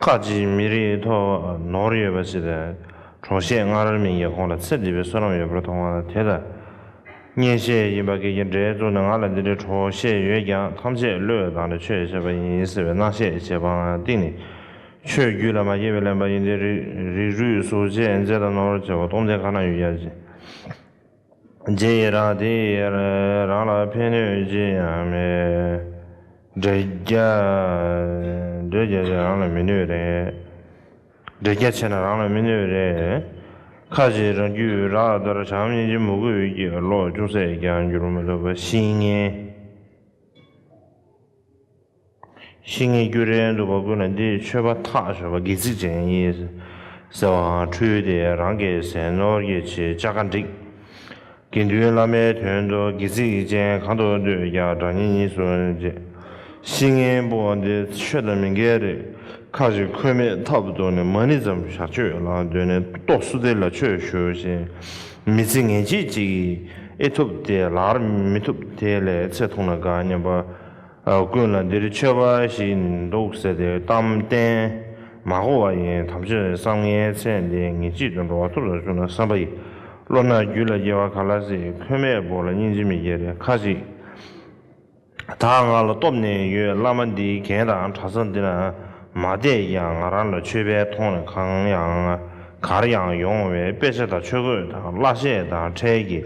ཁག་ཅིག་མི་རིགས་ཐོག་ནོར་ཡོད་པ་ཞིག་ལས། གྲོགས་གཞས་སྔ་རོལ་མིང་གི་ཁོང་ལ་ཚེ་འདི་པའི་བསོད་ནམས་ཡོད་པར་མཐོང་བ་ལ་དེ་ལ་བརྙན་གཞས་ཡིན་པ་གེགས་ཀྱི་འདྲེ་བཙུགས་ནས་ང་ལ་འདི་འདྲའི་གྲོགས་གཞས་ཡོད་ཀྱང་ཐམས་ཅད་བློས་བཏང་ནས་ཆོས་བྱས་པ་ཡིན་ཟེར་བའི་སྣང་བཤད་བྱེད་པའང་གཏིང་ནས་ཆོས་བརྒྱུད་ལ་མ་སྐྱེས་པའི་གླེན་པ་ཡིན་ཏེ། རིགས་རུས་གཟུགས་བྱད་མཛེས་དང་ནོར་བྱེ་བ་སྟོང་ལྡན་གང་ན་ཡོད་ཀྱང། རྗེས་ཡི་རང་དེ་ཡི་རང་ལ་ཕན་གནོད་ཅི་ཡང་མེད། འབྲེལ་རྒྱ་འབྲེལ་རྒྱ་ཆེ་རང་ལ་མི་གནོད་རེད། འབྲེལ་རྒྱ་ཆེ་ན་རང་ལ་མི་གནོད་རེད། ཁ་ཅིག་རང་རྒྱུད་རགས་ལྟར་བྱམས་སྙིང་རྗེ་མོ་རྒོད་ཀྱི་བློ་ཅུང་ཟད་ཀྱང་འགྱུར་མི་ཐུབ་པ་ཤེས་ངེས། ཤིང་ངེ་འགྱུར་རེ་འདུག་པ་ཀུན་ལ་འདི་མཆོད་པ་ཐག་ཆོད་པ་སྒལ་ཚིགས་ཅན་ཡིན། ཟེར་བའང་འཁྲུལ་ཏེ་རང་གི་ཟས་ནོར་གྱི་ཆེད་ལྕགས་ཁ་འགྲིག། དགེ་འདུན་བླ་མའི་དོན་དུ་སྒལ་ཚིགས་ཅན་གང་དུ་སྡོད་ཀྱང་དགྲ་གཉེན་གཉིས་སུ་མཇལ། ཤིང་ངེ་འབུ་བ་འདི་ཆོས་དང་མི་འགལ་རེད། ཁག་ཅིག་ཁོས་མེད་ཐབས་བཏོན་ནས་མ་ཎི་ཙམ་ཞག་གཅོད་ལ་འདོད་ནས་ཏོག་བསུ་སྟེ་ལ་ཆོས་ཞུ་ཞེས་མི་ཚེ་ངེས་བྱེད་ཅིག་ཨེ་ཐུབ་དེ་ལར་མི་ཐུབ་དེ་ལས་ཚེ་ཐུང་ན་དགའ་སྙམ་པ། ཀུན་ལ་འདིར་ཆོས་འབའ་ཞིག་འདུག་ཟེར་ཏེ་གཏམ་བསྟན། མ་གོ་བ་ཡིན་དམ་ཆོས་བསམ་ངའི་ཚེ་འདི་ངེད་ཅིག་ཏུ་འགྲོ་བ་ཐུབ་ས་བྱུང་ན་བསམ་པ་ཡི། བློ་སྣ་རྒྱུད་ལ་སྐྱེ་བ་ག་ལ་སྲིད་ཁོལ་མེད་བོར་ལ་སྙིང་རྗེ་མི་སྐྱེ་རེ་ཁ་ཅིག། ད་ང་ལ་སྟོབས་ནི་ཡོད་བླ་མ་འདིའི་གན་དང་གྲ་ས་འདི་ན་མ་བསྡད་ཀྱང་ང་རང་ལ་ཆོས་པའི་མཐོང་རེ་གང་ཡང་གར་ཡང་ཡོང་བའི་དཔེ་ཆ་དང་ཆོས་གོས་དང་བརླ་ཤད་དང་ཁྲལ་གྱི།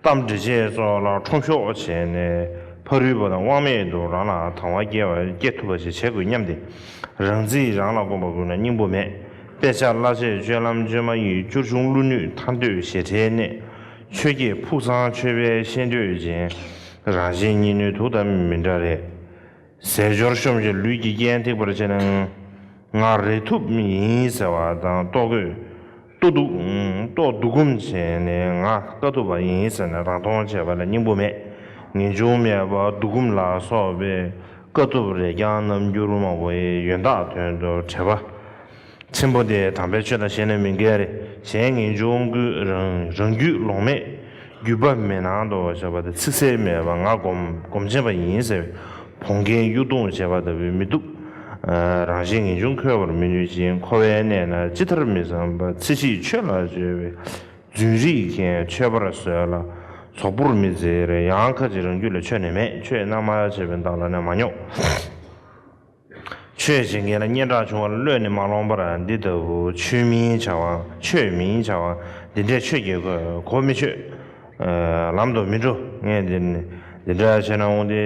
གཏམ་འདྲི་བྱེད་སོགས་ལ་ཁྲོམ་གཞོག་བྱས་ནས་ཕ་རུལ་པོ་དང་དབང་མེད་དུ་རང་ལ་དང་བ་སྐྱེ་ཐུབ་པ་ཞིག་བྱེད་དགོས་སྙམ་སྟེ། རང་ཚིག་རང་ལ་དགོངས་པ་བསྐུར་ན་སྙིང་པོ་མེད། དཔེ་ཆ་གླ་བྱེད་སྤྱོད་ལམ་བཅོས་མ་ཡིག་སྐྱུར་ཆུང་ཀླུ་ནུས་མཐའ་འདོད་ཞེ་ཁྲའི་གནས། ཆོས་བརྒྱད་ཕུགས་བཟང་ཆོས་པའི་ཤེས་འདོད་ཅན། རང་གཞན་གཉིས་ནུས་དུག་ལྟ་མི་འདྲ་རེ། ཟས་སྦྱོར་གཤོམ་བྱེད་ལུས་ཀྱི་རྐྱེན་ཐེག་པར་བྱེད། ང་རེ་ཐུབ་མི་ཡིན་ཟེར་བ་དང་ལྟོ་གོས། ལྟོ་འདུག། ལྟོ་འདུག་གོམ་བྱས་ནས་ང་དཀའ་སྡུག་པ་ཡིན་ཟེར་ནས་རང་མཐོང་བྱེད་པ་ལ་སྙིང་པོ་མེད། ངེས་འབྱུང་མེད་པར་འདུག་གོམ་ལ་སོགས་པའི་དཀའ་སྡུག་རེ་རྐྱང་རྣམ་འགྱུར་མང་བོའི་ཡོན་བདག་དོན་དུ་བྲེལ་བ། ཆེན་པོ་དེ་དམ་པའི་ཆོས་དང་ཤེས་ནས་མི་འགལ། གཞན་ངེས་འབྱུང་ཀུན་རང་རྒྱུད་ལོང་མེད། རྒྱུད་པ་མེད་སྣང་དུ་བྱ་བ་དང་ཚིག་གསལ་མེད་པར་ངག་སྒོམ་བྱེད་པ་ཡིན་ཟེར་བས་བོང་རྒན་གཡུ་རྡུང་བྱེད་པ་ལྟ་བུའི་མི་སྡུག་རང་བཞིན་ངེས་འབྱུང་འཁོལ་བར་མི་ནུས་ཀྱི་འཁོར་བའི་གནས་ན་ཅི་ལྟར་མི་བསམ་པར་ཚེ་གཅིག་ཆོས་ལ་སྤྱོད་པའི་རྫུན་རིག་མཁན་མཆོད་པར་གསོལ་ལ་ཚོགས་འབུར་མི་འཛེར་ཡང་ཁ་ཅིག་རང་རྒྱུད་ལ་ཆོས་ནི་མེད་ཆོས་སྣང་མ་བྱས་པའི་བདག་ལ་ནི་མ་རྙོག། ཆོས་བྱེད་མཁན་ལ་སྙན་གྲགས་ཆུང་བར་བློས་ནི་མ་ལོངས་པར་འདི་ལྟ་བུ་ཆོས་མིན་བྱ་བ་ཆོས་མིན་བྱ་བ་འདི་འདྲས་ཆོས་ཀྱི་གོ་མི་ཆོད། ལམ་དུ་མི་འགྲོ་ངས་འདི་འདི་འདྲ་བྱས་ན་དབང་འདི་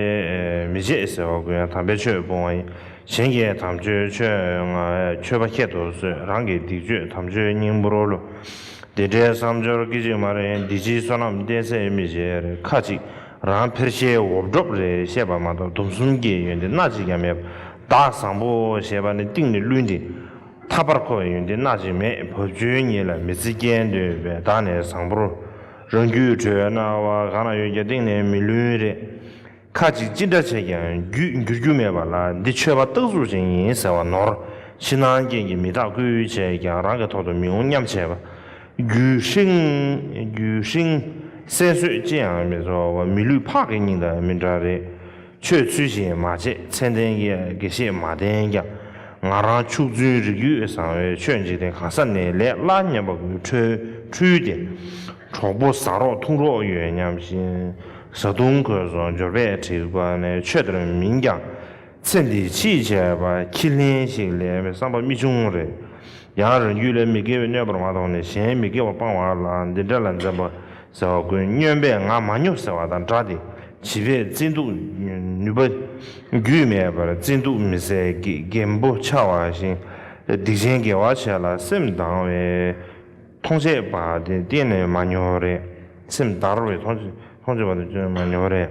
མི་བྱེད་ཟེར་བ་ཀུན་ཡང་དམ་པའི་ཆོས་སྤོང་བ་ཡིན། གཞན་གྱི་དམ་ཆོས་ཆོས་ང་ཁྱོད་པ་ཁྱེད་དུ་གསོད་རང་གི་སྡིག་སྤྱོད་དམ་ཆོས་སྙིང་པོ་རོ་ལོ། འདི་འདྲའི་བསམ་སྦྱོར་སྐད་ཅིག་མ་རེ་འདི་ཕྱིའི་བསོད་ནམས་བསྟན་སའི་མི་བྱེད་རེ་ཁ་ཅིག། རང་ཕེར་ཤའི་འོབས་སྒྲོབ་རེ་བཤད་པ་མ་གཏོགས་སྡོམ་གསུམ་གྱི་ཡོན་ཏན་སྣ་གཅིག་ཀྱང་མེད། བདག་བཟང་པོ་ཞེས་པ་ནི་ཏིང་ནི་རླུད་འདི། ཐར་པར་མཁོ་བའི་ཡོན་ཏན་སྣ་གཅིག་མེད་བབ་ཅོལ་ཉིད་ལ་མི་ཚེ་སྐྱེལ་འདོད་པས་བདག་ནི་བཟང་པོར། རང་རྒྱུད་གྲོལ་བའི་སྣང་བ་གང་ལ་ཡོད་ཀྱང་ཏིང་ནི་མི་ལུས་རེ། ཁ་ཅིག་ཅི་འདྲ་བྱས་ཀྱང་རྒྱུད་འགྱུར་རྒྱུ་མེད་པ་ལ་འདི་མཆོད་པ་རྟག་གཟུགས་ཅན་ཡིན་ཟེར་བ་ནོར། ཕྱི་ནང་རྐྱེན་གྱིས་མི་རྟག་ཀུན་བྱས་ཀྱང་རང་གི་ཐོག་ཏུ་མི་འོང་སྙམ་བྱེད་པ། རྒྱུད་ཧྲིང། རྒྱུད་ཧྲིང། གསལ་བསོད་ཅི་ཡང་མི་ཚོར་བ་མི་ལུས་ཕག་གི་སྙིང་དང་མི་འདྲ་རེད། ཆོས་ཚུལ་བཞིན་མ་བྱས་མཚན་ལྡན་གྱི་དགེ་བཤེས་མ་བསྟེན་ཀྱང་ང་རང་ཕྱུགས་རྫུན་རིགས་རྒྱུད་བཟང་བའི་ཆོས་འཇིག་རྟེན་གང་ས་ནས་ལས་སླ་སྙམ་པ་པོའི་འཁྲུལ་འཁྲུལ་དེ། གྲོགས་པོ་ཟ་རོགས་འཐུང་རོགས་ཡོད་སྙམ་བཞིན། བཟའ་བཏུང་གོས་སོགས་འབྱོར་པས་བྲིས་པ་ནས་ཆོས་དེར་མིན་ཀྱང། ཚེ་འདི་ཕྱིས་བྱས་པ་ཁྱི་ལྷེན་ཞིག་ལས་བསམ་པ་རྨི་ཆུང་རེད། ཡང་རང་རྒྱུད་ལས་མི་དགེ་བའི་གནོད་པར་མ་གཏོང་ནས་གཞན་མི་དགེ་བ་སྤང་བ་ལ་འདི་འདྲ་ལ་འཛེམ་པ་ཟེར་བ་ཀུན་སྨྱོན་པས་ང་མ་སྨྱོ་ཟེར་བ་དང་འདྲ་སྟེ་བྱིས་པས་བརྩི་འདུག་ནུས་པ་རྒྱུས་མེད་པར་བརྩི་འདུག་མི་ཟད་རྒན་པོ་ཆ་བ་བཞིན་སྡིག་ཆེན་དགེ་བ་བྱས་ལ་སེམས་དྭངས་བའི་མཐོང་ཆས་པ་དེ་གཏན་ནས་མ་སྨྱོ་རེད་སེམས་དར་བའི་མཐོང་ཆས་པ་དེ་གཏན་ནས་མ་སྨྱོ་རེད།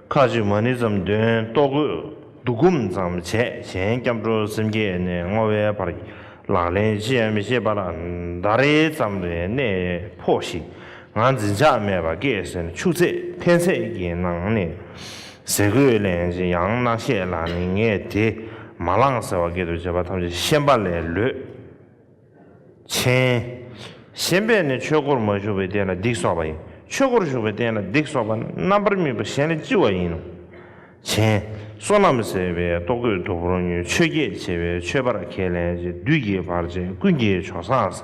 ཁ་ཅིག་མ་ཎི་ཙམ་དོན་རྟོགས་དགོས། བསྡུ་སྒོམ་ཙམ་བྱས་གཞན་སྐྱབས་འགྲོ་སེམས་བསྐྱེད་ནས་བསྔོ་བའི་བར་གྱི་ལག་ལེན་ཅི་ཡང་མི་ཤེས་པར་ཟླ་རེ་ཙམ་རེ་གནས་ཕོག་ཤིག་ང་འཛིན་ཆགས་མེད་པ་སྐད་ཟེར་ཆུ་ཚད་འཐེན་ཚད་ཀྱི་ནང་ནས་ཟེར་གོས་གླེང་ཅི་ཡང་རྣག་བཤད་ལ་ནི་ངས་དེ་མ་བླངས་ཟེར་བ་སྐད་དུ་བྱས་པ་ཐམས་ཅད་ཤན་པ་ལས་ལོད། མཆན། ཞེན་པས་ནི་ཆོས་སྒོར་མ་ཞུགས་པའི་རྟེན་ལ་སྡིག་གསོག་པ་ཡིན། ཆོས་སྒོར་ཞུགས་པའི་རྟེན་ལ་སྡིག་གསོག་པ་ནི་རྣམ་པར་སྨིན་པ་གཞན་ལས་ལྕི་བ་ཡིན་ནོ། མཆན། བསོད་ནམས་ཟད་པའི་ལྟོ་གོས་དུག་པོར་མྱོས་ཆོས་བརྒྱད་བྱེད་པའི་མཆོད་པར་ཁས་ལེན་ཅིང་བདུད་ཀྱི་བར་ཆད་ཀུན་གྱི་ཆོ་སངས་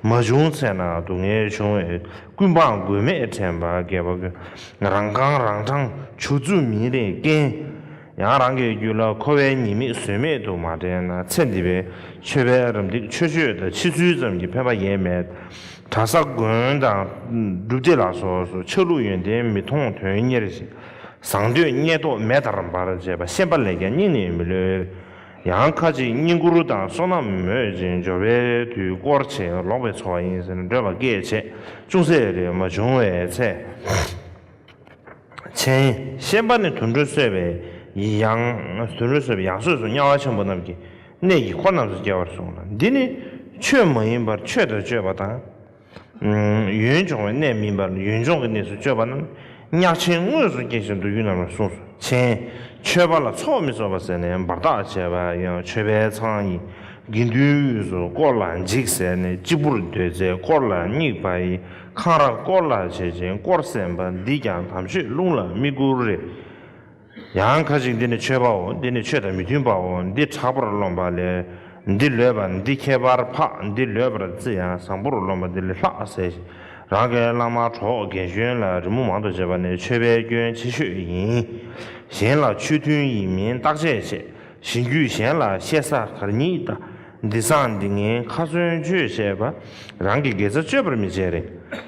མ་བྱུང་ཚེ་ན་སྡུག་བསྔལ་འབྱུང་བས་ཀུན་སྤངས་མགོན་མེད་དྲན་པ་རྒས་པ་ཀུན་རང་རྐང་རང་འཕྲང་ཆུ་རྫུ་མིན་རེ་སྐན། ཡང་རང་གི་རྒྱུད་ལ་མཁོ་བའི་ཉེས་དམིགས་ཟོལ་མེད་དུ་མ་དྲན་ན་ཚེ་འདི་པའི་ཆོས་པའི་རམ་འདེགས་ཆོས་སྤྱོད་དང་ཕྱི་ཚུལ་ཙམ་གྱི་ཕན་པ་ཡེ་མེད། གྲྭ་ས་དགོན་དང་སྒྲུབ་སྡེ་ལ་སོགས་སུ་ཆགས་ལུགས་ཡོན་ཏན་མི་མཐོང་དོན་གཉེར་བཟང་འདོད་རྙེད་དོགས་མེད་དར་འབར་བྱེད་པ་ཤེས་པ་ལས་ཀྱང་སྙིང་ནས་མི་ལོད། ཡང་ཁ་ཅིག་བསྙེན་བཀུར་དང་བསོད་ནམས་མོས་ཅན་འབྱོར་བས་དུས་བསྐོར་ཆེས་ལོག་པའི་འཚོ་བ་ཡིན་ཟེར་འདོད་པ་སྐད་ཆས་ཅུང་ཟད་རེ་མ་བྱུང་བའི་ཚེ། མཚན། ཤེས་པ་ནི་དུད་འགྲོའི་གསོད་པའི་ཡང། དུད་འགྲོའི་གསོད་པའི་ཡང་སོས་སུ་དམྱལ་བ་ཆེན་པོ་རྣམས་ཀྱི་གནས་ཀྱི་འཁོར་རྣམས་སུ་སྐྱེ་བར་གསུངས་ལ་འདི་ནི། ཆོས་མ་ཡིན་པར་ཆོས་དང་སྤྱོད་པ་དང། ཡུན་འབྱུང་བའི་གནས་མིན་པར་ཡུན་འབྱུང་གི་གནས་སུ་སྤྱོད་པ་རྣམས་གཉགས་ཆེན་དངོས་སུ་སྐྱེ་ཞིང་འདུག་ཡུལ་རྣམས་ལ་གསུངས་སོ། མཚན། མཆོད་པ་ལ་ཚོགས་མི་གསོད་པ་ཟེར་ནས་འབར་ཐག་བྱས་པ་ཡང་མཆོད་པའི་ཚང་ཡིན། དགེ་འདུན་དབུས་སུ་བསྐོར་ལ་འཇིགས་ཟེར་ནས་གཅིག་པུར་སྡོད་ཚེ་བསྐོར་ལ་སྙིགས་པ་ཡི། འཁང་ར་སྐོར་ལ་བྱེད་ཅིང་བསྐོར་བསྲན་པ་འདིས་ཀྱང་དམ་ཆོས་རླུང་ལ་མིག་བསྐུར་རེ། ཡང་ཁ་ཅིག་འདི་ནི་ཆོས་པའོ་འདི་ནི་ཆོས་དང་མི་མཐུན་པའོ་འདི་དྲག་པར་རློམ་པ་ལས་འདི་ལོད་པ་འདི་ཁྱད་པར་འཕགས་འདི་ལོད་པར་བརྩི་ཡང་བཟང་པོར་རློམ་པ་འདི་ལས་ལྷག་ཟེར་ཞིང་རང་གི་བླ་མ་གྲོགས་དགེ་སྦྱོན་ལ་རི་མོ་མང་དུ་བྱེད་པ་ནི་ཆོས་པའི་སྐྱོན་ཆེ་ཤོས་ཡིན། གཞན་ལ་ཆོས་མཐུན་ཡིན་མིན་བརྟག་དཔྱད་བྱེད་བཞིན་རྒྱུད་གཞན་ལ་བཤད་ས་གར་ཉིད་འདི་སང་འདི་ངན་ཁ་ཚོན་གཅོད་བཤད་པ་རང་གི་དགེ་རྩ་གཅོད་པར་མི་བྱེད་རེ་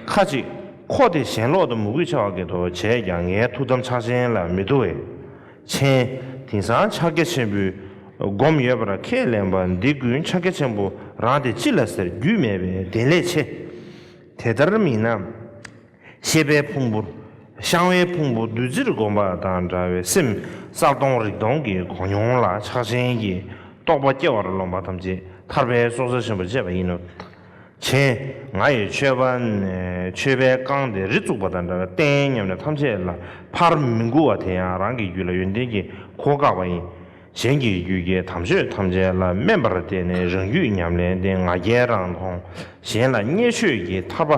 ཁ་ཅིག་ཁོ་དེ་ཞེན་ལོག་དང་མུ་གུས་ཆ་བ་གེ་དོ་བྱས་ཀྱང་ངའི་ཐུགས་དམ་ཕྱག་ཆེན་ལ་མི་དོ་བས། མཆན། དེང་སང་ཕྱག་རྒྱ་ཆེན་པོའི་སྒོམ་ཡོད་པར་ཁས་ལེན་པ་འདི་ཀུན་ཕྱག་རྒྱ་ཆེན་པོ་རང་དེ་ཅི་ལ་ཟེར་རྒྱུས་མེད་པའི་བདེན་ལས་ཆེ། དེ་ལྟར་མིན་ན། ཤེས་པའི་ཕུང་པོ། བཤང་བའི་ཕུང་པོ་བདུད་རྩིར་བསྒོམ་པ་དང་འདྲ་བའི་སེམས་གསར་སྟོང་རིག་སྟོང་གི་གོ་མྱོང་ལ་ཆགས་ཅན་གྱི་རྟོག་པ་སྐྱེ་བར་རློམ་པ་ཐམས་ཅད་ཐར་པའི་སྲོག་རྩ་ཆེན་པོར་བཅད་པ་ཡིན་ནོ། ཆེན་ང་ཡི་མཆོད་པ་ནས་མཆོད་པའི་བསྐང་དེ་རི་བཙུགས་པ་དང་འདྲ་བའི་རྟེན་སྙམ་ནས་ཐམས་ཅད་ལ་ཕར་མི་མགུ་བ་དེ་ཡང་རང་གི་རྒྱུད་ལ་ཡོན་ཏན་གྱི་གོ་བཀག་པ་ཡིན། གཞན་གྱི་རྒྱུད་རྒྱལ་དམ་ཆོས་ཐམས་ཅད་ལ་སྨན་པར་བལྟས་ནས་རང་རྒྱུད་ཉམས་ལེན་ཏེ་ང་རྒྱལ་རང་མཐོང། གཞན་ལ་བརྙས་ཆོས་ཀྱི་ཐར་པ།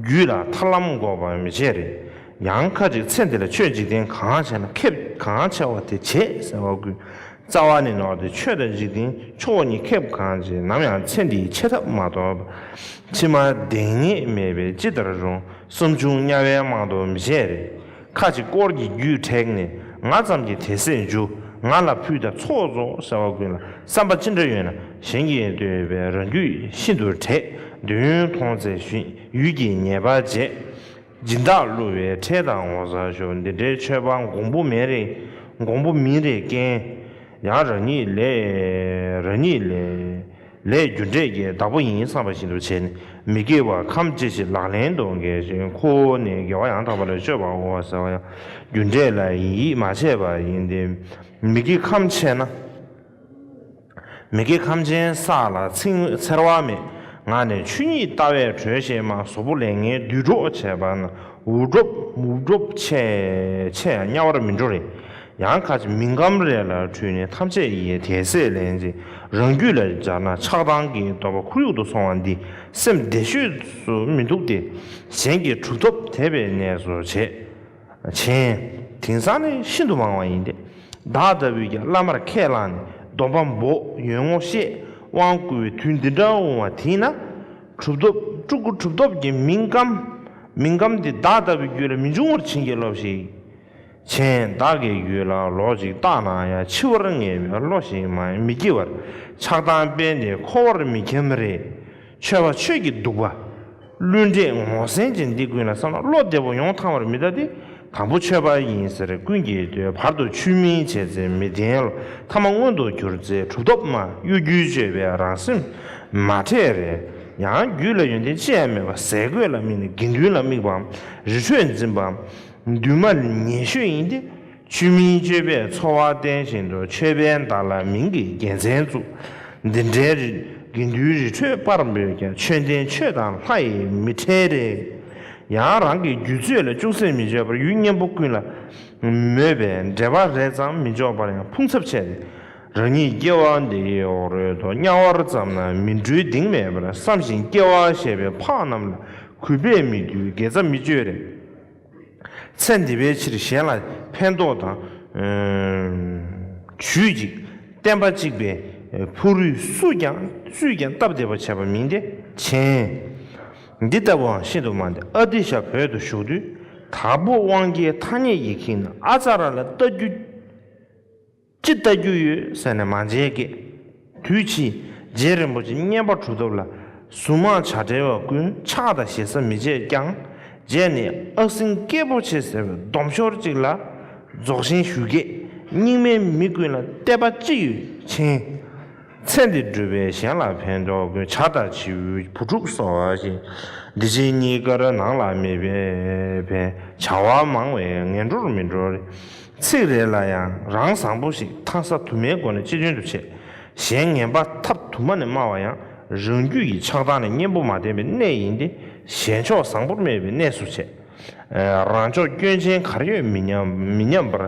རྒྱུད་ལ་ཐར་ལམ་འགོག་པ་མི་བྱེད་རེ། ཡང་ཁ་ཅིག་ཚེ་འདི་ལ་ཆོས་འཇིག་རྟེན་གང་ཆེ་ན་ཁེབས་གང་ཆེ་བ་དེ་བྱེད་ཟེར་བ་ཀུན། རྩ་བ་ནས་ནོར་ཏེ་ཆོས་དང་འཇིག་རྟེན་ཆོས་སྒོ་གཉིས་ཁེབས་གང་ཅེས་ནམ་ཡང་ཚེ་འདིའི་ཆེ་ཐབས་མ་ཐོབ་པ། ཕྱི་མར་གདེང་རྙེད་མེད་པས་ཅི་ལྟར་རུང་གསུམ་བྱུང་དམྱལ་བའི་རྨང་རྡོ་མི་བྱེད་རེ། ཁ་ཅིག་དཀོར་གྱི་རྒྱུས་དྲེགས་ནས་ང་ཙམ་གྱིས་དེ་སྲས་མཇུག་ང་ལ་ཕུལ་དང་ཚོགས་རྫོགས་ཟེར་བ་ཀུན་ལ་བསམ་པ་ཅི་འདྲ་ཡོད་ན་གཞན་གྱིས་འདོད་པའི་རང་རྒྱུད་ཤིན་ཏུ་དྲེགས་འདོད་ཡུན་མཐོང་བཙལ་ཞིང་ཡུལ་གྱི་ཉེས་པ་བཅད། སྦྱིན་བདག་བསླུ་བའི་ཁྲེལ་དང་ངོ་ཚ་ཞོག་འདི་འདྲའི་ཆོས་པ་འགོང་པོ་མེད་རེ་འགོང་པོ་མིན་རེ་ཀན། ཡང་རང་ཉིད་ལས། རང་ཉིད་ལས། ལས་རྒྱུ་འབྲས་ཀྱི་བདག་པོ་ཡིན་བསམ་པ་བཞིན་དུ་བྱས་ནས་མི་དགེ་བ་ཁམས་ཅི་ཞིག་ལག་ལེན་དུ་འགེལ་ཞིང་ཁོ་བོ་ནི་དགེ་བ་ཡང་དག་པ་ལ་སྤྱོད་པར་འོང་བ་ཟེར་བ་ཡང་རྒྱུ་འབྲས་ལ་ཡིད་ཡིད་མ་ཆེས་པ་ཡིན་ཏེ། མི་དགེ་ཁམས་ཆེས་ན། མི་དགེ་ཁམས་ཅན་ས་ལ་ཚིང་བས་འཚེར་བ་མེད་ང་ནི་ཆུ་ཉིད་ལྟ་བས་གྲོལ་ཞེས་མ་བཟོ་བོ་ལས་ངན་བསྡུས་གྲོགས་བྱས་པ་ན་འུར་སྒྲོབ་འུར་སྒྲོབ་ཆེས་ཆེས་ཡང་དམྱལ་བར་མི་འགྲོ་རེ། ཡང་ཁ་ཅིག་མིང་སྐམ་རས་ལ་བྲུས་ནས་ཐམས་ཅད་ཀྱིས་དད་སེར་ལེན་ཅིང་རང་རྒྱུད་ལ་སྦྱར་ན་ཆགས་སྡང་གི་འདོད་པ་ཁོར་ཡུག་ཏུ་སོང་བ་འདི་སེམས་བདེ་ཤོས་སུ་མི་འདུག་སྟེ། གཞན་གྱི་གྲུབ་ཐོབ་དད་པའི་གནས་སུ་བྱེད། མཆན། དེང་སང་ནི་ཤིན་ཏུ་མང་བ་ཡིན་ཏེ། བདག་ལྟ་བུས་ཀྱང་བླ་མར་ཁས་བླངས་ནས་སྡོམ་པ་འབོག་ཡོན་ངོ་ཤེས་དབང་བསྐུར་བའི་དུས་འདི་འདྲ་འོང་བ་དེས་ན། གྲུབ་ཐོབ་སྤྲུལ་སྐུ་གྲུབ་ཐོབ་ཀྱི་མིང་སྐམ། མིང་སྐམ་འདི་བདག་ལྟ་བུའི་རྒྱུད་ལ་མི་འབྱུང་བར་བྱིན་གྱིས་རློབས་ཤིག། ཆེན་བདག་གི་ཡུལ་ལ་ལོག་ཅིག་བརྟགས་ན་ཡང་འཆི་བར་ངེས་པའི་བློ་ཞིག་མ་མི་སྐྱེ་བར་ཆགས་སྡང་དཔེ་འདི་ཁོ་བོར་མི་འཁྱམ་རེ། ཆོས་པ་ཆོས་ཀྱི་གདུག་པ། བླུན་འབྲས་ངོ་ཟན་ཅན་འདི་ཀུན་ལ་བསམ་ན་བློ་བདེ་པོ་ཡོང་ཐང་བར་མི་གདའ་སྟེ་དང་པོ་ཆོས་པ་ཡིན་ཟེར་ཀུན་གྱིས་རྡོའི་བར་དུ་ཆུད་མིན་བྱས་ཚེ་མི་བདེན་ལ་ཐ་མ་མངོན་དུ་གྱུར་ཚེ་གྲུབ་ཐོབ་ན་གཡོ་སྒྱུའི་སྤྱོད་པས་རང་སེམས་མ་ཁྲེལ་རེ། ཡང་རྒྱུད་ལ་ཡོན་ཏན་ཅི་ཡང་མེད་པར་ཟས་གོས་ལ་དམིགས་ནས་དགེ་འདུན་ལ་དམིགས་པའམ་རི་ཁྲོད་འཛིན་པའམ། འདུན་མ་ཉེ་ཤོས་ཡིན་ཏེ་ཆུ་མིན་སྤྱོད་པས་འཚོ་བ་བརྟེན་བཞིན་དུ་ཆོས་དཔལ་མདའ་ལ་མིང་གི་རྒྱལ་མཚན་བཙུགས། འདི་འདྲའི་དགེ་འདུན་རི་ཁྲོད་སྤར་འབོད་ཀྱང་ཆོས་ལྡན་ཆོས་དང་ལྷ་ཡི་མི་ཁྲལ་རེད། ཡང་རང་གི་རྒྱུད་ཚོད་ལ་ཅུང་ཟད་མི་འཇོག་པར་ཡུལ་གཉེན་པོ་ཀུན་ལ་མོས་པའི་འབྲེལ་བ་རེ་ཙམ་མི་འཇོག་པར་ཡང་ཕུང་ཚབ་ཆེ། རང་ཉིད་སྐྱེ་བ་འདིའི་འོག་རོལ་དུ་དམྱལ་བར་ཙམ་ན་མི་འགྲོའི་གདིང་མེད་པར་བསམ་བཞིན་སྐྱེ་བ་བཞེས་པའི་འཕགས་རྣམས་ལ་གུས་པས་མི་འདུལ་དགེ་རྩ་མི་སྤྱོད་རེ། ཚེ་འདི་པའི་ཕྱིར་གཞན་ལ་ཕན་འདོགས་དང། བྱུས་ཅིག་བསྟན་པ་གཅིག་པའི་ཕུག་རུས་སུས་ཀྱང་སུས་ཀྱང་སྟབས་བདེ་བར་བྱས་པ་མིན་ཏེ་བྱིན། འདི་ལྟ་བུའང་ཤིན་ཏུ་མང་སྟེ་ཨ་ཏི་ཤ་བོད་དུ་བཞུགས་དུས་དྭགས་པོ་དབང་རྒྱལ་ཐ་སྙད་ཀྱིས་ཁྱིམ་ཨ་ཙཱ་ར་ལ་བལྟ་རྒྱུ། ཅི་ལྟ་རྒྱུ་ཡོད་ཟེར་ནས་མ་མཇལ་སྐད། དུས་ཕྱིས་རྗེ་རིན་པོ་ཆེ་བསྙེན་པ་གྲུབ་ཐོབ་ལ་གཟུངས་མང་བྱ་བྲལ་བ་ཀུན་ཕྱག་དང་ཞེ་ས་མི་བྱེད་ཀྱང་རྗེ་ནི་ཨག་སིང་སྐྱེས་པོ་ཆེ་ཟེར་བའི་སྡོམ་ཤོར་ཅིག་ལ་རྫོགས་ཤིང་ཞུ་སྐད་རྙིང་མའི་མི་ཀུན་ལ་གཏད་པ་ཅི་ཡོད་མཁྱེན། ཚེ་འདི་བགྲོད་པས་གཞན་ལ་ཕན་འདོགས་ཀུན་བྱ་ལྟ་བྱེའུ་བུ་ཕྲུག་སོགས་བཞིན་འདི་ཕྱི་གཉིས་ཀར་ནང་ལ་མི་ཕན་བྱ་བ་མང་བས་ངན་འགྲོར་མི་འགྲོ། ཚིག་རེ་ལ་ཡང་རང་བཟང་པོ་ཞིག་མཐའ་ས་དུ་མའི་སྒོ་ནས་སྤྱི་དོན་དུ་བྱས། གཞན་ངན་པ་ཐབས་དུ་མ་ནས་སྨྲ་བ་ཡང་རང་རྒྱུད་ཀྱི་ཆགས་སྡང་ལས་གཉེན་པོ་མ་བསྟེན་པའི་གནས་ཡིན་ཏེ་གཞན་ཕྱོགས་བཟང་པོར་སྨྲས་པའི་གནས་སུ་བྱས། རང་ཕྱོགས་སྐྱོན་ཅན་གར་ཡོད་མི་སྙམ་པར་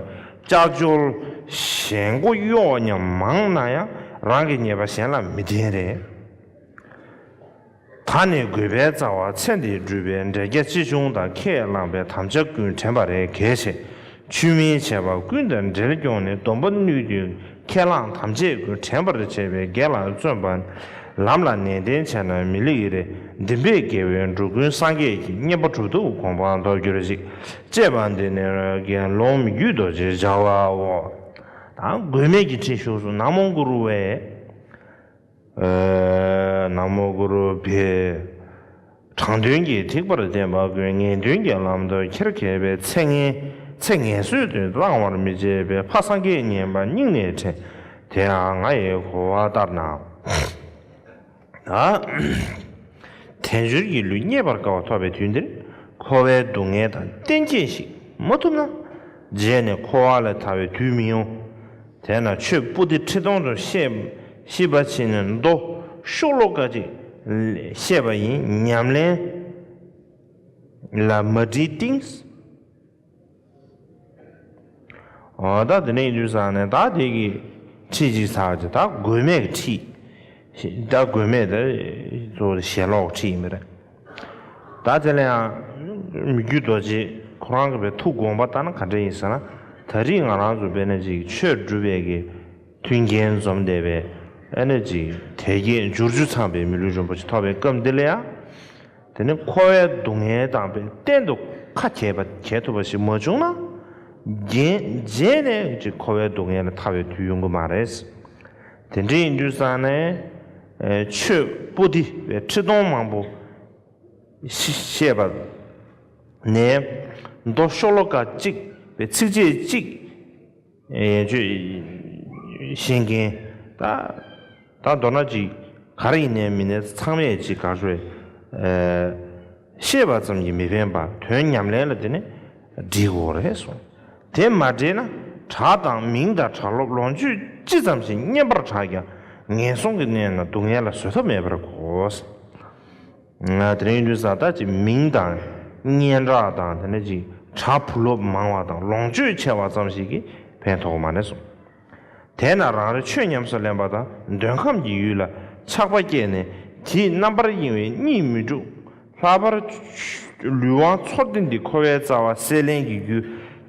ལྕགས་སྦྱོར་གཞན་མགོ་གཡོག་སྙམ་མང་ན་ཡང་རང་གི་ཉེས་པ་གཞན་ལ་མི་བསྟན། རེ་ད་ནི་དགོས་པའི་རྩ་བ་ཚེ་འདི་སྒྲུབ་པའི་འབྲས་རྒྱ་ཅི་བྱུང་དང་ཁས་བླངས་པའི་དམ་བཅའ་ཀུན་དྲན་པ་རེ་གལ་ཆེ། ཆུད་མིན་བྱས་པ་ཀུན་དང་འབྲེལ་སྐྱོང་ནི་སྡོམ་པ་ནུས་མཐུ་ཁས་བླངས་དམ་བཅས་ཀུན་དྲན་པར་བྱས་པའི་དགེ་ལ་བརྩོན་པ། ལམ་ལ་ནན་ཏན་བྱས་ན་མི་ལེགས་རེ་འདིམ་པས་དགེ་བའི་འབྲུ་ཀུན་སངས་རྒྱས་ཀྱི་བསྙེན་པ་གྲུབ་ཐོབ་གོང་འཕང་མདོར་གྱུར་ཅིག། ཅེས་པ་འདི་ནི་དགེ་སློང་མི་རྒྱུད་རྡོ་རྗེའི་སྦྱར་བའོ། དང། དགོས་མེད་ཀྱི་འཁྲིད་ཞུགས་སུ་ནག་མོ་མགུར་བའི། ན་མོ་གུ་རུ་བྷེ། དྲང་དོན་གྱི་ཐེག་པར་བསྟེན་པ་ཀུན་ངེས་དོན་གྱི་ལམ་དུ་ཁྱེར་མཁས་པའི་ཚེ་ངན་ཚེ་ངན་སོས་དུས་བླང་བར་མི་བྱེད་པའི་ཕ་སངས་རྒྱས་བསྙེན་པ་སྙིང་ནས་དྲན། དེའང་ང་ཡི་གོ་བ་ལྟར་ན། དལ་འབྱོར་གྱི་ལུས་རྙེད་པར་དཀའ་བ་ཐོབ་པའི་དུས་འདིར་འཁོར་བའི་སྡུག་བསྔལ་དང་གཏན་ཁེལ་ཞིག་མ་ཐུབ་ན། རྗེས་ནས་འཁོར་བ་ལས་ཐར་བའི་དུས་མི་ཡོང། དེས་ན་ཆོས་སྤུ་ཏི་ཁྲི་སྟོང་དུ་ཤེས། ཤེས་པ་ཕྱིན་ནས་མདོ་ཤོག་ལོ་ཀ་གཅིག་བཤད་པ་ཡིན་ཉམས་ལེན་ལ་མ་བྲིས་གཏིང། ད་དེ་འདྲའི་ཡིན་དུས་བསགས་ནས་ད་དེ་གི་ཁྲིད་ཅིག་བསགས་ཀྱི་ད་དགོས་མེད་ཀྱི་ཁྲིད། སྒྲ་དགོས་མེད་དེ་གཙོ་བོ་ཞེན་ལོག་གི་ཁྲིད་ཡིན་པ་རེད། ད་དེ་ལ་ཡང་མི་རྒྱུད་རྡོ་རྗེས་ཁོ་རང་གི་པའི་ཐུགས་དགོངས་པ་ལྟར་ན་ག་འདྲ་ཡིན་ཟེར་ན། ད་རིས་ང་རང་ཚོ་བེ་ནེ་ཙི་ཡི་ཆོས་སྒྲུབ་པའི་གི་མཐུན་རྐྱེན་འཛོམས་བསྡད་པའི་ཨེ་ནེ་ཙི་དལ་རྒྱས་འབྱུར་བཅུ་ཚངས་པའི་མི་ལུས་རིན་པོ་ཆེ་ཐོབ་པའི་སྐབས་འདི་ལ་ཡང། དེ་ནི་ཁོ་བའི་སྡུག་བསྔལ་དང་པའི་གཏན་དུ་ཁ་གྱེས་པ་གྱེས་ཐུབ་པ་ཞིག་མ་བྱུང་ན། རྒྱན་རྗེས་ནས་ཀྱི་ཁོ་བའི་སྡུག་བསྔལ་ལ་ཐར་བའི་དུས་ཡོང་གི་མ་རེད། དེ་འདྲའི་ཡིན་དུས་སང་ནས་ཆོས་པོ་ཏི་བའི་ཁྲི་སྟོང་མང་པོ་བཤད་པ་ནས་མདོ་ཤོ་ལོ་ཀ་གཅིག་པའི་ཚིགས་བཅད་གཅིག་ཡན་ཆོད་བཤད་མཁན་དང་མདོར་ན་གཅིག་གར་ཡིན་ནས་མིན་ནས་ཚང་མས་གཅིག་གར་བས། ཤེས་པ་ཙམ་གྱིས་མི་ཕན་པར་དོན་ཉམས་ལེན་ལ་དེ་ནི་འགྲིག་གོ་རེད་གསུངས། དེ་མ་འགྲིག་ན་གྲྭ་དང་མིང་དང་གྲྭ་སློབ་ལོངས་སྤྱོད་ཅི་ཙམ་ཞིག་བསྙེན་པར་གྲགས་ཀྱང་ངན་སོང་གི་གནས་ན་སྡུག་བསྔལ་ལ་བཟོད་ཐབས་མེད་པར་གོ། དེ་རིང་ཡུན་ས་བདག་ཅིག་མིང་དང་སྙན་གྲགས་དང་དེ་འདྲ་ཅིག་གྲྭ་བུ་སློབ་མང་བ་དང་ལོངས་སྤྱོད་ཆེ་བ་ཙམ་ཞིག་གིས་ཕན་ཐོགས་མ་རེད་གསུངས། དེས་ན་རང་རེ་ཆོས་ཉམས་སུ་ལེན་པ་དང་འདོད་ཁམས་ཀྱི་ཡུལ་ལ་ཆགས་པ་སྐྱེས་ནས་དེས་རྣམ་པར་གཡེང་བས་གཉིད་མི་འཁྲུག། ལྷག་པར། ལུས་དབང་ཚོར་འདི་འདི་འཁོར་བའི་རྩ་བ་སྲེད་ལེན་གྱི་རྒྱུ།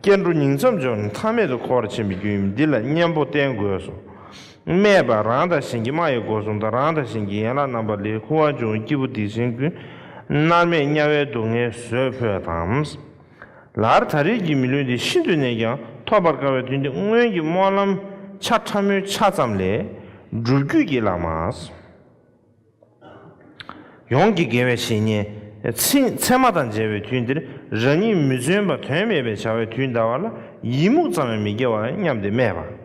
སྐྱེ་འགྲོ་ཉིང་མཚམས་སྦྱོར་ནས་མཐའ་མེད་དུ་འཁོར་བར་འཕྱན་པའི་རྒྱུ་ཡིན་པས་འདི་ལ་གཉེན་པོ་བསྟེན་དགོས་སོ། སྨྲས་པ། རང་དང་གཞན་གྱི་སྨྲ་ཡི་སྒོ་གསུམ་དང་རང་དང་གཞན་གྱི་ཡན་ལག་རྣམ་པ་ལས་ཁུ་བ་འབྱུང་བའི་སྐྱེས་བུ་སྡིག་ཅན་ཀུན། མནར་མེད་དམྱལ་བའི་སྡུག་བསྔལ་བཟོད་ཕོད་དམ། ལར་ད་རེས་ཀྱི་མི་ལུས་འདི་ཤིན་ཏུ་ནས་ཀྱང་ཐོབ་པར་དཀའ་བའི་དུས་འདི་སྔོན་གྱི་སྨོན་ལམ་ཆ་ཕྲ་མོའི་ཆ་ཙམ་ལས་སྒྲུབ་བརྒྱུད་ཀྱི་བླ་མ་ཡོངས་ཀྱི་དགེ་བའི་བཤེས་གཉེན་ཚད་མ་དང་མཇལ་བའི་དུས་འདིར་རང་ཉིད་མི་བརྩོན་པ་དོན་མེད་པའི་བྱ་བའི་དུས་འདའ་བ་ལ་ཡིད་མུག་ཙམ་ཡང་མི་སྐྱེ་བར་སྙམ་སྟེ་སྨྲས་པ།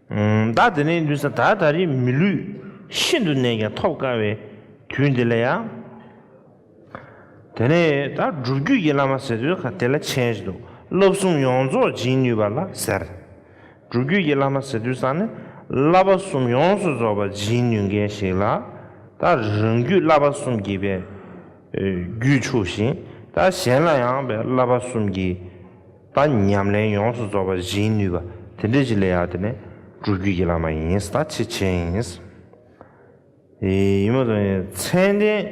བདག་དེ་ནས་འདུན་ས་དག་ད་རེས་མི་ལུས་ཤིན་ཏུ་ནས་ཀྱང་ཐོབ་དཀའ་བའི་དུས་འདི་ལ་ཡང། དེ་ནས་ད་སྒྲུབ་བརྒྱུད་ཀྱི་བླ་མ་ཟེར་དུས་ཁ་དེ་ལ་མཆན་ཞིག་འདུག་བསླབ་གསུམ་ཡོངས་རྫོགས་སྦྱིན་ནུས་པ་ལ་ཟེར། སྒྲུབ་བརྒྱུད་ཀྱི་བླ་མ་ཟེར་དུས་སང་ནི་བསླབ་པ་གསུམ་ཡོངས་སུ་རྫོགས་པ་སྦྱིན་ནུས་མཁན་ཞིག་ལ་ད་རང་རྒྱུད་བསླབ་པ་གསུམ་གྱི་བའི་རྒྱུད་ཕྱུག་ཤིང་ད་གཞན་ལ་ཡང་བའི་བསླབ་པ་གསུམ་གྱི་ད་ཉམས་ལེན་ཡོངས་སུ་རྫོགས་པ་བཞིའི་ནུས་པ་དེ་འདྲས་ཀྱི་ལས་ཡག་དེ་ནི་སྤྲུལ་རྒྱུད་ཀྱི་བླ་མ་ཡིན་ད་ཆེ་ཆེ་ཡིན། ཡིན་མོད་དོན་ཚན་ལྡན།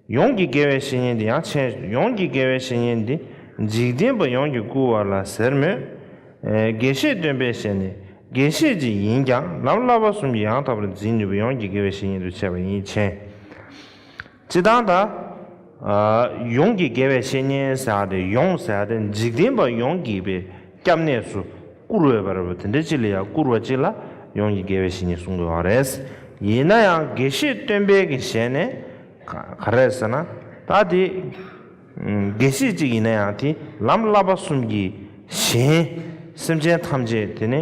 ཡོངས་ཀྱི་དགེ་བའི་བཤེས་གཉེན་འདི་ཡང་ཆེ། ཡོངས་ཀྱི་དགེ་བའི་བཤེས་གཉེན་འདི་འཇིག་རྟེན་པ་ཡོངས་ཀྱི་སྐུ་བ་ལ་ཟེར་མོད། དགེ་བཤེས་སྟོན་པའི་ཞལ་ནས་དགེ་བཤེས་ཅིག་ཡིན་ཀྱང་ལམ་བསླབ་པ་གསུམ་གྱི་ཡང་དག་པར་འཛིན་ནུས་པ་ཡོངས་ཀྱི་དགེ་བའི་བཤེས་གཉེན་དུ་ཆེ་བ་ཡིན་ཕྱིན། ཅེས་དང། ད་ཡོངས་ཀྱི་དགེ་བའི་བཤེས་གཉེན་བསལ་ཏེ་ཡོངས་བསལ་ཏེ་འཇིག་རྟེན་པ་ཡོངས་ཀྱི་པའི་སྐྱབས་གནས་སུ་བཀུར་འོས་པ་རེད་བ་དེ་འདྲའི་སྤྱི་ལ་ཡང་བཀུར་བ་ཅི་ལ་ཡོངས་ཀྱི་དགེ་བའི་བཤེས་གཉེན་གསུང་དགོས་བ་རེད། ཡིན་ན་ཡང་དགེ་བཤེས་སྟོན་པའི་གི་ཞལ་ནས། ག་རེད་ཟེར་ན། ད་དེ། དགེ་བཤེས་གཅིག་ཡིན་ན་ཡང་དེས་ལམ་བསླབ་པ་གསུམ་གྱིས་གཞན། སེམས་ཅན་ཐམས་ཅད་དེ་ནི།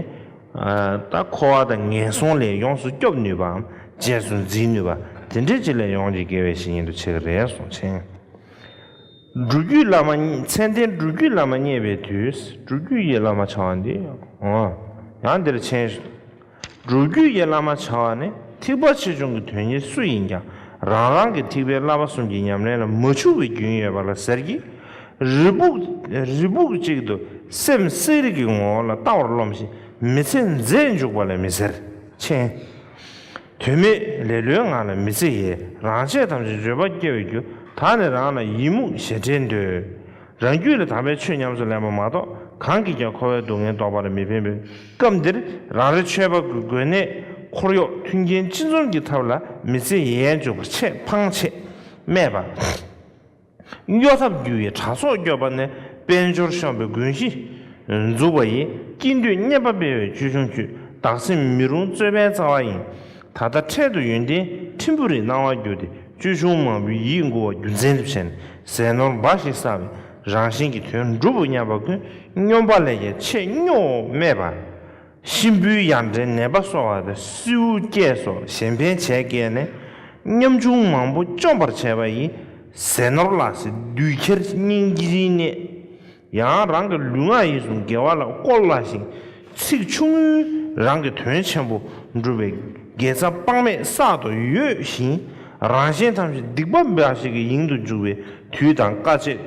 ད་འཁོར་བ་དང་ངན་སོང་ལས་ཡོངས་སུ་སྐྱོབ་ནུས་པའམ་རྗེས་སུ་འཛིན་ནུས་པ་དེ་འདྲའི་སྤྱི་ལས་ཡོངས་ཀྱི་དགེ་བའི་བཤེས་གཉེན་དུ་ཆེ་གི་རེད་གསུངས་མཆན། འབྲུ་རྒྱུད་བླ་མ་མཚན་ལྡན་འབྲུ་རྒྱུད་བླ་མ་རྙེད་པའི་དུས་འབྲུ་རྒྱུད་ཡིད་བླ་མ་བྱ་བ་འདི། ཡང་འདིར་མཆན། སྒྲུབ་བརྒྱུད་ཀྱི་བླ་མ་བྱ་བ་ནི་ཐེག་པ་ཆེ་ཆུང་གི་དོན་གཉེར་སུ་ཡིན་ཀྱང་རང་རང་གི་ཐེག་པའི་བསླབ་པ་གསུམ་གྱི་ཉམས་ལེན་ལ་མ་འཕྱུགས་པའི་རྒྱུན་ཡོད་པ་ལ་ཟེར་གྱི། རི་སྦུག་ཅིག་ཏུ་སེམས་གསེར་གྱི་ངོ་བོ་ལ་ལྟ་བར་རློམ་ཞིང་མི་ཚེ་འཛད་འཇུག་པ་ལས་མི་ཟེར། མཆན། དོན་མེད་ལེ་ལོའི་ངང་ལ་མི་ཚེ་ཡི་རང་ཆས་ཐམས་ཅད་འགྱོད་པ་སྐྱེ་བའི་རྒྱུ་དག་ནི་རང་ལ་ཡི་མུག་ཞེ་ཁྲེལ་འདོད། རང་རྒྱུད་ལ་དག་པའི་ཆོས་ཉམས་སུ་ལེན་པ་མ་གཏོགས་གང་གིས་ཀྱང་འཁོར་བའི་སྡུག་བསྔལ་བཟློག་པར་མི་ཕན་པའི་སྐབས་འདིར་རང་རེ་ཆོས་པ་ཀུན་དགོན་གནས་འཁོར་གཡོག་མཐུན་རྐྱེན་སྤྱི་འཛོམས་ཀྱི་ཐབས་ལ་མི་ཚེ་ཡལ་འཇུག་པ་ཆེས་ཕངས་ཆེ། སྨྲས་པ། གཡོ་ཐབས་རྒྱུ་ཡི་གྲྭ་ཚོགས་སྐྱོབ་པ་ནི་དཔལ་འབྱོར་གཤོམ་པའི་དགོན་གཞི། འཛུགས་པ་ཡིས་སྐྱིད་འདོད་སྙན་པ་སྤེལ་བའི་ཅོལ་ཆུང་བརྒྱུད་བདག་སེམས་མི་རུང་རྩོད་པའི་རྩ་བ་ཡིན། ད་ལྟ་འཕྲལ་དུ་ཡོན་ཏན་ཕྲན་བུ་རེ་སྣང་བར་གྱུར་ཏེ་ཅོལ་ཆུང་མང་པོའི་ཡིད་མགུ་བ་རྒྱུ་མཚན་དུ་བྱས་ནས་ཟས་ནོར་འབའ་ཞིག་བསགས་པས་རང་བཞིན་གྱི་དོན་འགྲུབ་བོ་སྙམ་པ་ཀུན་སྙོམས་པ་ལས་ཀྱང་ཆེས་སྨྱོ་བོ་སྨྲས་པ། གཤིན་པོའི་ཡར་འདྲེན་ནད་པ་གསོ་བ་དང་སྲིའུ་སྐྱེས་སོགས་གཞན་ཕན་བྱས་བསྐལ་ནས་ཉམ་ཆུང་མང་པོ་བཅོམ་པར་བྱས་པ་ཡི། ཟས་ནོར་ལ་སྲིད་བདུད་ཁྱེར་སྙིང་རྗེའི་གནས། ཡང་རང་གི་ལུས་ངག་ཡིད་གསུམ་དགེ་བ་ལ་བཀོལ་སླ་ཞིང། ཚིག་ཆུང་ངུས་རང་གི་དོན་ཆེན་པོ་འགྲུབ་པས་དགེ་རྩ་དཔག་མེད་བསག་ཏུ་ཡོད་བཞིན། རང་གཞན་ཐམས་ཅད་སྡིག་པ་འབའ་ཞིག་གི་དབྱིངས་དུ་འཇུག་པའི་དུས་དང་དཀའ་སྤྱད་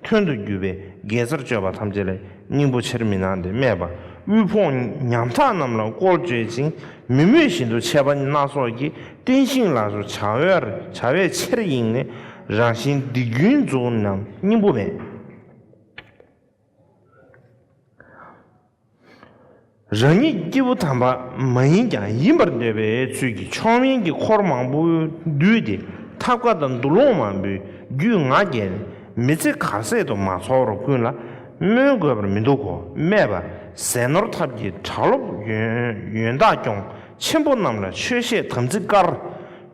མཐུན་དུ་གྱུར་པས་དགེ་རྩར་སྤྱོད་པ་ཐམས་ཅད་ལས་སྙིང་པོ་ཆེར་མི་སྣང་སྟེ་སྨྲས་པ་དབུལ་ཕོངས་ཉམ་ཐག་རྣམས་ལ་བཀོལ་སྤྱོད་ཅིང་མི་མོས་བཞིན་དུ་ཆད་པ་སྣ་ཚོགས་ཀྱིས་བརྟན་ཞིང་ལགས་སོ། བྱ་བའི་ཆེར་དབྱིངས་ནི་རང་བཞིན་སྡིག་རྒྱུན་རྫོགས་ནམ་སྙིང་པོ་མེད། རང་ཉིད་སྐྱེས་བུ་དམ་པ་མ་ཡིན་ཀྱང་ཡིན་པར་འདོད་པའི་ཚུལ་གྱིས་མཆོག་དམན་གྱི་འཁོར་མང་པོ་བསྡུས་ཏེ་ཐབས་བཀའ་དང་འདུ་ལོང་མང་པོའི་རྒྱུས་ང་རྒྱལ་མི་ཚེ་གར་ཟད་དུ་མ་འཚོགས་རོགས་ཀུན་ལ་སྨོན་དགོས་པར་མི་འདུག་གོ་སྨྲས་པ། ཟས་ནོར་ཐབས་ཀྱི་གྲྭ་སློབ་ཡོན་བདག་སྐྱོང་ཆེན་པོ་རྣམས་ལ་ཆོས་བཤད་དམ་ཚིག་བཀར།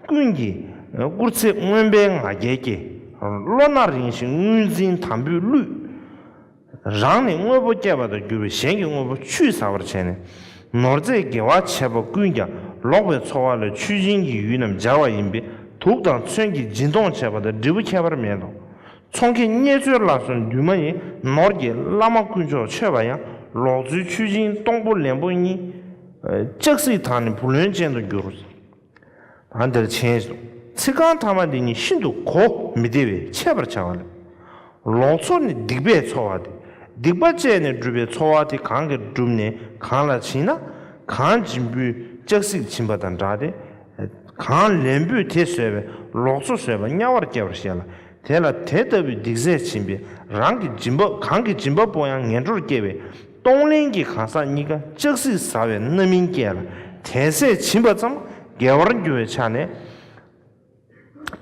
ཀུན་གྱིས་བཀུར་ཚེ་རྔོན་པའི་ང་རྒྱལ་སྐྱེ། བློ་སྣ་རིང་ཞིང་དངུལ་འཛིན་དམ་པོས་བསླུས། རང་ནི་དངོས་པོ་སྐྱེད་པ་དང་འགྱུར་བའི་གཞན་གྱི་དངོས་པོ་ཆུད་ཟ་བར་བྱས་ནས། ནོར་རྫས་དགེ་བ་བྱས་པ་ཀུན་ཀྱང་ལོག་པའི་འཚོ་བ་ལ་མཆོད་སྦྱིན་གྱི་ཡུལ་རྣམས་སྦྱར་བ་ཡིན་པས་དུག་དང་མཚོན་གྱིས་སྦྱིན་གཏོང་བྱས་པ་དང་འབྲས་བུ་ཁྱད་པར་མེད་དོ། ཚོང་མཁན་རྙེད་འཚོལ་བླ་སྲོལ་འདུས་མ་ཡིན་ནོར་གྱི་བླ་མ་དཀོན་མཆོག་མཆོད་པ་ཡང་ལོག་འཚོའི་མཆོད་སྦྱིན་སྟོང་པོ་ལན་པོ་གཉིས། ལྕགས་སྲིད་དང་ནི་བུ་ལོན་ཅན་དུ་འགྱུར། ལ་འདིར་མཆན་གསུངས། ཚིག་རྐང་ཐ་མ་འདི་གཉིས་ཤིན་ཏུ་གོ་མི་བདེ་བས་འཆད་པར་བྱ་བ་ལས། ལོག་འཚོ་ནི་སྡིག་པས་འཚོ་བ་སྟེ་སྡིག་པ་སྤྱད་ནས་བསྒྲུབས་པའི་འཚོ་བ་དེ་གང་གིས་བསྒྲུབས་ནས་གང་ལ་བྱིན་ན། གང་སྦྱིན་པོས་ལྕགས་གཟིག་བྱིན་པ་དང་འདྲ་སྟེ། གང་ལེན་པོས་དེ་བཟོད་པས་ལོག་འཚོ་བཟོད་པ་དམྱལ་བར་སྐྱེ་བར་བཤད་ལ། དེ་ལ་དེ་ལྟ་བུའི་སྡིག་ཟས་བྱིན་པས་རང་གི་སྦྱིན་པ་གང་གིས་སྦྱིན་པ་པོ་ཡང་ངན་འགྲོར་སྐྱེ་བས། གཏོང་ལེན་གྱི་གང་ཟག་གཉིས་ཀ་ལྕགས་སྲེག་ཟ་བའི་རྣམ་སྨིན་སྐྱེ་ལ་དལ་ཟས་བྱིན་པ་ཙམ་འགལ་བར་འགྱུར་བའི་ཆ་ནས།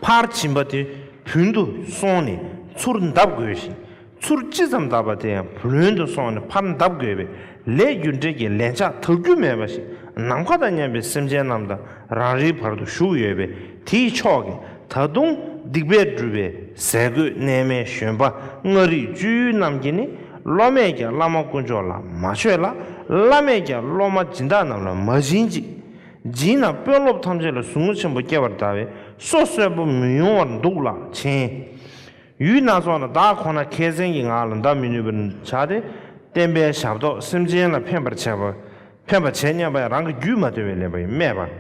ཕར་བྱིན་པ་དེ་བུན་དུ་སོང་ནས་ཚུར་འདབ་དགོས་ཤིང་ཚུར་ཅི་ཙམ་འདབ་པ་དེ་ཡང་བུ་ལོན་དུ་སོང་ནས་ཕར་འདབ་དགོས་པས་ལས་རྒྱུ་འབྲས་ཀྱི་ལན་ཆགས་དག་རྒྱུ་མེད་པ་ཞིག་ནམ་མཁའ་དང་མཉམ་པའི་སེམས་ཅན་རྣམས་དང་རང་རེའི་བར་དུ་བཞུགས་ཡོད་པས། དེ་ཡི་ཕྱོགས་ཀྱི་ད་དུང་སྡིག་པས་བསྒྲུབས་པའི་ཟས་གོས་གནས་མལ་བཞོན་པ་ལྔ་རིག་སྤྱོད་ཡུལ་རྣམས་ཀྱིས་ནི་སློབ་མས་ཀྱང་བླ་མ་དཀོན་མཆོག་ལ་མ་མཆོད་ལ། བླ་མས་ཀྱང་སློབ་མ་སྦྱིན་བདག་རྣམས་ལ་མ་སྦྱིན་ཅིག། སྦྱིན་ན་དཔོན་སློབ་ཐམས་ཅད་ལ་ཟུག་རྔུ་ཆེན་པོ་སྐྱེ་བར་གདའ་བས་སོ་གསོད་པོ་མི་ཡོང་བར་འདུག་ལགས་མཆན། ཡུལ་སྣ་ཚོགས་ན་བདག་ཁོ་ན་མཁས་བཙན་གྱི་ངག་ལ་འདའ་མི་ནུས་པར་བྱ་སྟེ། བསྟན་པའི་ཞབས་ཏོག་སེམས་ཅན་ལ་ཕན་པར་བྱེད་སྙམ་པས་རང་གི་རྒྱུད་མ་དོལ་བའི་ལེན་པ་ཡིན་སྨྲས་པ།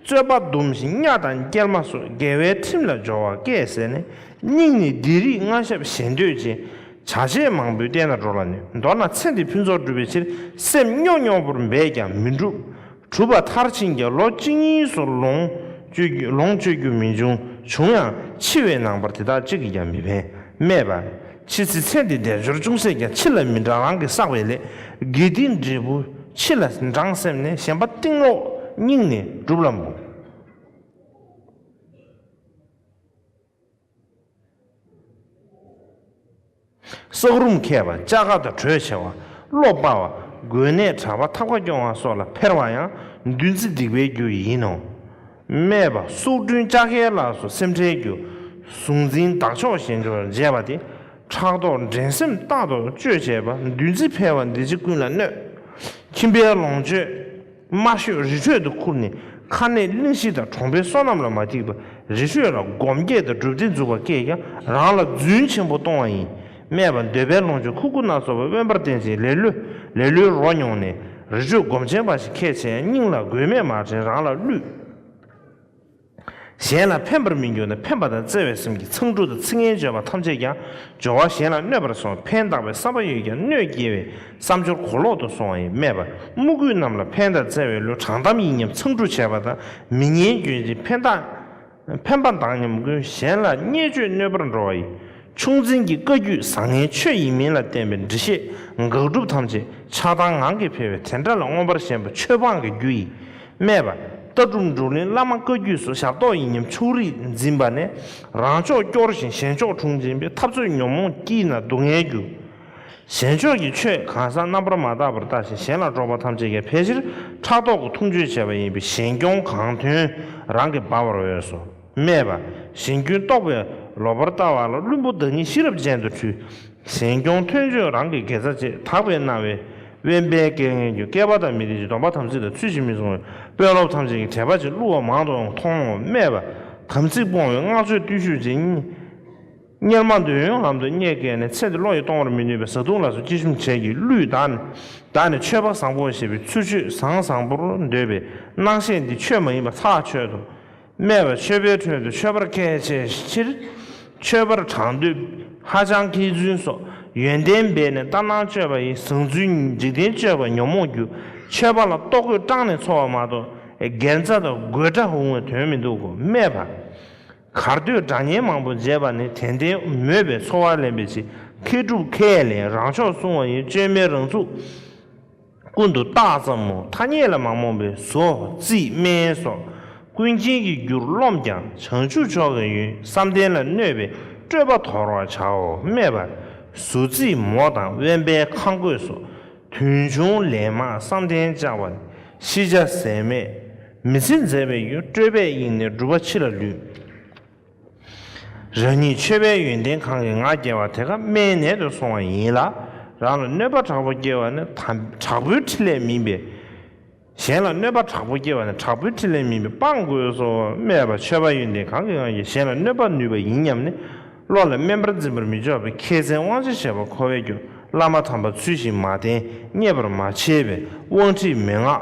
རྩོད་པ་འདུམས་ཤིང་གཉའ་དང་སྐྱེར་མ་སོགས་འགལ་བའི་ཁྲིམས་ལ་སྦྱོར་བ་སྐད་ཟེར་ནས་སྙིང་ནས་སྡིག་རིགས་མངའ་ཞབས་ཞེ་འདོད་ཅན། བྱ་བྱེད་མང་པོའི་སྟེང་ན་འགྲོ་ལ་ནུས་མདོར་ན་ཚེ་འདི་ཕུན་ཚོགས་སྒྲུབ་པའི་ཕྱིར་སེམས་རྙོག་རྙོག་པོར་འབད་ཀྱང་མི་འགྲུབ། གྲུབ་པ་མཐར་ཕྱིན་ཀྱང་ལོ་གཅིག་གཉིས་སུ་ལོངས་སྤྱོད་རྒྱུ་མི་འབྱུང། བྱུང་ཡང་འཆི་བའི་ནང་པར་དེ་དག་གཅིག་གིས་ཀྱང་མི་ཕན། སྨྲས་པ། ཕྱིས་ཚེ་ཚད་འདི་དལ་འབྱོར་ཅུང་ཟད་ཀྱང་ཕྱི་ལ་མི་འབྲང་རང་གིས་བསགས་པའི་ལས་དགེ་སྡིག་འབྲས་བུ་ཕྱི་ལ་འབྲང་སེམས་ནས་ཞེན་པ་གཏིང་སློག་སྙིང་ནས་བསྒྲུབ་ལམ་བུ། བསགས་རུམ་མཁས་པ་ལྕགས་མཁར་དུ་གྲོས་ཆེ་བ་བློ་དཔའ་བ་དགོན་གནས་གྲྭ་པ་ཐབས་ཁ་སྐྱོང་བ་སོགས་ལ་ཕེར་བ་ཡང་བདུད་རྩི་སྡིག་པའི་རྒྱུ་ཡིན་ནོ། སྨྲས་པ། སུག་སྦྲུལ་ལྕགས་མཁན་ལགས་སུ་སེམས་ཁྲལ་རྒྱུ། གཟུང་འཛིན་བདག་ཕྱོགས་གཞན་ཕྱོགས་འཇལ་བ་དེ། ཕྲག་དོག་འགྲན་སེམས་ལྟ་དོག་གཅོད་བྱེད་པ་འདུལ་འཛི་ཕལ་བ་འདི་ཅི་ཀུན་ལ་གནོད། ཁྱིམ་པའི་ལོངས་སྤྱོད་དམར་ཤོས་རི་ཁྲོད་དུ་ཁུར་ནས་ཁ་ནད་གླིང་བཞི་དང་གྲོང་པའི་སོ་ནམ་ལ་མ་ཐིག་པ་རི་ཁྲོད་ལ་སྒོམ་སྐྱེས་དང་སྒྲུབ་སྡེ་འཛུགས་པ་སྐད་ཀྱང་རང་ལ་རྫུན་ཆེན་པོ་གཏོང་བ་ཡིན། སྨྲས་པ། འདོད་པའི་ལོངས་སྤྱོད་ཁུ་དགུ་སྣ་ཚོགས་པ་དབེན་པར་བསྟེན་ཅིང་ལེ་ལོས་ལེ་ལོའི་རོ་མྱོང་ནས། རི་ཁྲོད་སྒོམ་ཆེན་འབའ་ཞིག་ཁས་འཆེ་ཡང་སྙིང་ལ་དགོས་མེད་མ་དྲན་རང་ལ་བསླུས། གཞན་ལ་ཕན་པར་མི་འགྱུར་ན་ཕན་པ་དང་བརྩེ་བའི་སེམས་ཀྱིས་མཚང་འབྲུ་དང་ཚིག་ངན་བརྗོད་པ་ཐམས་ཅད་ཀྱང་སྦྱོར་བ་གཞན་ལ་གནོད་པར་སོང་ཕན་གདགས་པའི་བསམ་པ་ཡོད་ཀྱང་གནོད་སྐྱེལ་བའི་བསམ་སྦྱོར་གོ་ལོག་ཏུ་སོང་བ་ཡིན་སྨྲས་པ། དམུ་རྒོད་རྣམས་ལ་ཕན་དང་བརྩེ་བའི་ལོས་དྲང་གཏམ་ཡིན་སྙམ་མཚང་འབྲུ་བྱས་པ་དང་མི་སྙན་བརྗོད་ཅིང་ཕན་གདགས། ཕན་པ་དང་ཉམས་མགོན་གཞན་ལ་བརྙས་བཅོས་གནོད་པར་འགྲོ་བ་ཡི་ཆུང་འཛིན་གྱི་བཀའ་རྒྱུད་བཟང་ངན་ཆོས་ཡིན་མིན་ལ་བརྟེན་པའི་འདྲི་བཤད་དགག་སྒྲུབ་ཐམས་ཅད་ཆགས་སྡང་ངང་གིས་འཕེལ་བས་དེ་འདྲ་ལ་མངོན་པར་ཞེན་པ་ཆོས་སྤངས་ཀྱི་རྒྱུ་ཡིས་སྨྲས་པ། ལྟ་གྲུབ་འབྲུག་གླིང་བླ་མ་བཀའ་རྒྱུད་སོགས་ཞབས་ཏོག་ཡིན་སྙམ་ཕྱུགས་རིགས་འཛིན་པ་ནས་རང་ཕྱོགས་སྐྱོར་ཞིང་གཞན་ཕྱོགས་དྲུང་འཛིན་པའི་འཐབ་རྩོད་ཉོན་མོངས་དཀྱིལ་ན་སྡུག་བསྔལ་རྒྱུ། གཞན་ཕྱོགས་ཀྱི་ཆོས་གང་ཟག་རྣམ་པར་མ་བརྟགས་པར་བརྟགས་ཤིང་གཞན་ལ་སྤྲོ་བ་ཐམས་ཅད་ཀྱང་ཕལ་ཆེར་ཕྲག་དོག་གི་འཐུང་ཆོས་བྱས་པ་ཡིན་པས་གཞན་སྐྱོང་གང་དོན་རང་གིས་སྦ་བར་འོས་སོ། སྨྲས་པ། གཞན་སྐྱོན་རྟོགས་པའི་ལོག་པར་ལྟ་བ་ལ་བླུན་པོ་བདག་ཉིད་ཤེས་རབ་ཅན་དུ་འཁྲུལ། གཞན་སྐྱོང་མཐོན་ཆོས་རང་གི་དགེ་རྩ་བཅས་དག་པས་སྣང་བས་དབེན་པའི་སྐལ་ངན་གྱི་བསྐལ་པ་དང་མི་ལྡན་ཅིང་སྡོམ་པ་དམ་ཚིག་ལ་ཚུལ་བཞིན་མི་བཟུང་བས་དཔོན་སློབ་ཐམས་ཅད་ཀྱི་དད་པ་ཅན་བསླུ་བ་མང་དུའང་མཐོང་ངོ། སྨྲས་པ། དམ་ཚིག་སྤོང་བའི་སྔགས་བརྗོད་བརྟུལ་ཞུགས་ཅན། གཉེར་མ་འདོད་ཡོན་ལམ་དུ་བསྙེག་སྐད་ནས་ཚེ་འདི་བློ་ཡིས་གཏོང་བར་མི་ནུས་པའི་བཟའ་བཏུང་ལ་སོགས་སྤྱི་ཞུམ་བྱས་ཀྱི་གླུས་བདག་ནི་བདག་ནི་ཆོས་པ་བཟང་པོ་ཞེས་པའི་ཚུལ་ཆོས་བཟང་བཟང་པོར་འདོད་པའི་སྣང་ཤས་འདི་ཆོས་མ་ཡིན་པ་ཚགས་ཆོད་དུ་སྨྲས་པ་ཆོས་པའི་ཁྲོད་དུ་ཆོས་པར་སྐལ་བྱས་ཕྱིར། ཆོས་པར་གྲངས་འདུས་ཧ་ཅང་མཁས་བཙུན་སོགས་ཡོན་ཏན་སྦས་ནས་ལྟ་སྣང་སྤྱོད་པ་ཡི་བཟང་ཚུལ་འཇིག་རྟེན་སྤྱོད་པ་ཉོན་མོངས་རྒྱུ་ཆོས་པ་ལ་ལྟོ་གོས་སྐྲངས་ནས་འཚོ་བ་མ་གཏོགས་སྒེར་རྩ་དང་དགོད་སྒྲ་འུང་བའི་དོན་མི་འདུག་གོ་སྨྲས་པ། གར་སྟོད་སྒྲ་སྙན་མང་པོ་མཇལ་བ་ནི་དད་ལྡན་མོས་པའི་འཚོ་བར་ལེན་པའི་ཆེད་མཁས་གྲུབ་མཁས་ལས་རང་ཕྱོགས་སྲུང་བ་ཡི་བཅོས་མའི་རང་ཚུགས། ཀུན་ཏུ་རྟགས་ཙམ་མོ་ཐ་སྙད་ལ་མ་རྨོངས་པའི་བཟོ་རྩིས་སྨན་སོགས་ཀུན་མཁྱེན་གྱི་རྒྱུར་རློམ་ཀྱང་བྱང་ཆུབ་མཆོག་གི་ཡུན་བསམ་གཏན་ལ་གནོད་པའི་སྤྲོས་པ་དོར་བར་བྱའོ་སྨྲས་པ། བཟོ་རྩིས་མོ་དང་དབེན་པའི་ཁ་འགོད་སོགས་དུས་འབྱུང་ལས་མ་བསམ་གཏན་བཅའ་བ་ནི་ཤེས་བྱ་ཟད་མེད། མི་ཚེ་མཛེས་པའི་ཡུལ་སྤྲོས་པས་གཡེངས་ནས་སྒྲུབ་པ་ཕྱི་ལ་ལུས། རང་ཉིད་ཆོས་པའི་ཡོན་ཏན་གང་གིས་ང་རྒྱལ་བ་དེ་ཀ་མའི་ནད་དུ་སོང་བ་ཡིན་ལ། རང་ལ་གནོད་པ་དྲག་པོ་སྐྱེ་བ་ནི་དྲག་པོའི་ཕྲིན་ལས་མིན་པས། གཞན་ལ་གནོད་པ་དྲག་པོ་སྐྱེ་བ་ནི་དྲག་པོའི་ཕྲིན་ལས་མིན་པས་སྤང་དགོས་སོ་སྨྲས་པ་ཆོས་པ་ཡོན་ཏན་གང་གིས་ང་རྒྱལ་གཞན་ལ་གནོད་པར་ནུས་པ་ཡིན་སྙམ་ནས་བློ་ལ་སྨན་པར་འཛིན་པར་མི་འཇོག་པས་མཁས་བཙན་དབང་ཆེ་བྱེད་པ་ཁོ་བས་ཀྱང་བླ་མ་དམ་པ་ཚུལ་བཞིན་མ་བསྟེན་མཉེས་པར་མ་བྱས་པས་དབང་ཁྲིད་མན་ངག་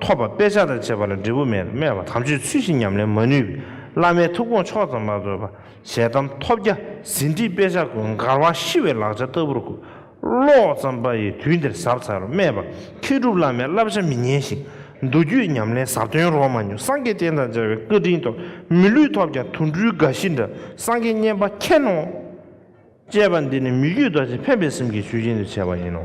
ཐོབ་པ་དཔེ་ཆ་དང་བཅས་པ་ལ་འབྲས་བུ་མེད་སྨྲས་པ་དམ་ཆོས་ཚུལ་བཞིན་ཉམས་ལེན་མ་ནུས་པས་བླ་མའི་ཐུགས་དགོངས་ཕྱོགས་ཙམ་མ་བཟོད་པར་ཞལ་གདམས་ཐོབ་རྒྱ་ཟིན་བྲིས་དཔེ་ཆ་ཀུན་མགར་བ་ཤི་བའི་ལག་ཆ་ལྟ་བུར་བཀོད། ཀློག་ཙམ་པ་ཡིས་དུས་འདིར་ཟབ་ཚར་སྨྲས་པ་མཁས་གྲུབ་བླ་མའི་བསླབ་བྱ་མི་ཉན་ཞིང་མདོ་རྒྱུད་ཉམས་ལེན་ཟབ་དོན་རོ་མ་ཉུང་སངས་རྒྱས་བསྟན་དང་སྦྱར་བའི་བཀའ་དྲིན་ཐོབ་མི་ལུས་ཐོབ་ཀྱང་དུད་འགྲོའི་དགའ་བཞི་འདྲ་སངས་རྒྱས་བསྙེན་པ་མཁྱེན་ནོ། ཅེས་པ་འདི་ནི་མི་རྒྱུད་རྡོ་རྗེ་ཕན་པའི་སེམས་ཀྱི་ཞུས་རྗེས་འདི་བྱས་པ་ཡིན་ནོ།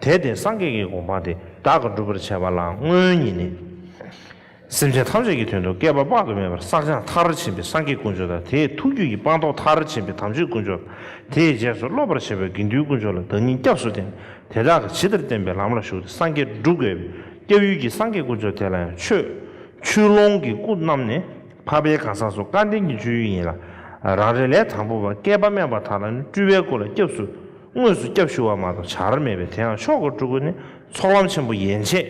དེ་སྟེ་སངས་རྒྱས་ཀྱི་དགོངས་པ་འདི་བདག་གིས་བསྒྲུབ་པར་བྱ་བ་ལའང་སྔོན་ཉིད་ནས། སེམས་ཅན་ཐམས་ཅད་ཀྱི་དོན་དུ་བསྐལ་པ་དཔག་ཏུ་མེད་པར་བསགས་སྦྱངས་མཐར་ཕྱིན་པའི་སངས་རྒྱས་དཀོན་མཆོག་དང་དེའི་ཐུགས་རྒྱུད་ཀྱི་སྤངས་རྟོགས་མཐར་ཕྱིན་པའི་དམ་ཆོས་དཀོན་མཆོག་དང་དེའི་རྗེས་སུ་སློབ་པར་བྱེད་པའི་དགེ་འདུན་དཀོན་མཆོག་ལ་བདག་ཉིད་སྐྱབས་སུ་བསྟེན། དེ་དག་གིས་ཇི་ལྟར་བསྟེན་པའི་ལམ་ལ་ཞུགས་ཏེ་སངས་རྒྱས་བསྒྲུབ་དགོས་པས་སྐྱབས་ཡུལ་གྱི་སངས་རྒྱས་དཀོན་མཆོག་དེ་ལ་ཡང་ཆོས། ཆུ་ཀློང་གི་སྐུ་རྣམས་ནི་འཕགས་པའི་གང་ཟག་སོགས་སྐལ་ལྡན་གྱི་སྤྱོད་ཡུལ་ཡིན་ལ། རང་རེ་ལས་དང་པོ་བ་བསྐལ་པ་དམན་པ་དག་ལ་ནི་སྤྲུལ་པའི་སྐུ་ལ་སྐྱབས་སུ། དངོས་སུ་སྐྱབས་ཞུ་བ་མ་གཏོགས་བྱ་ར་མེད་པས་དེའང་ཆོག་གོ་སྤྲུལ་སྐུ་ནི་ཚོགས་ལམ་ཆེན་པོ་ཡན་ཆད་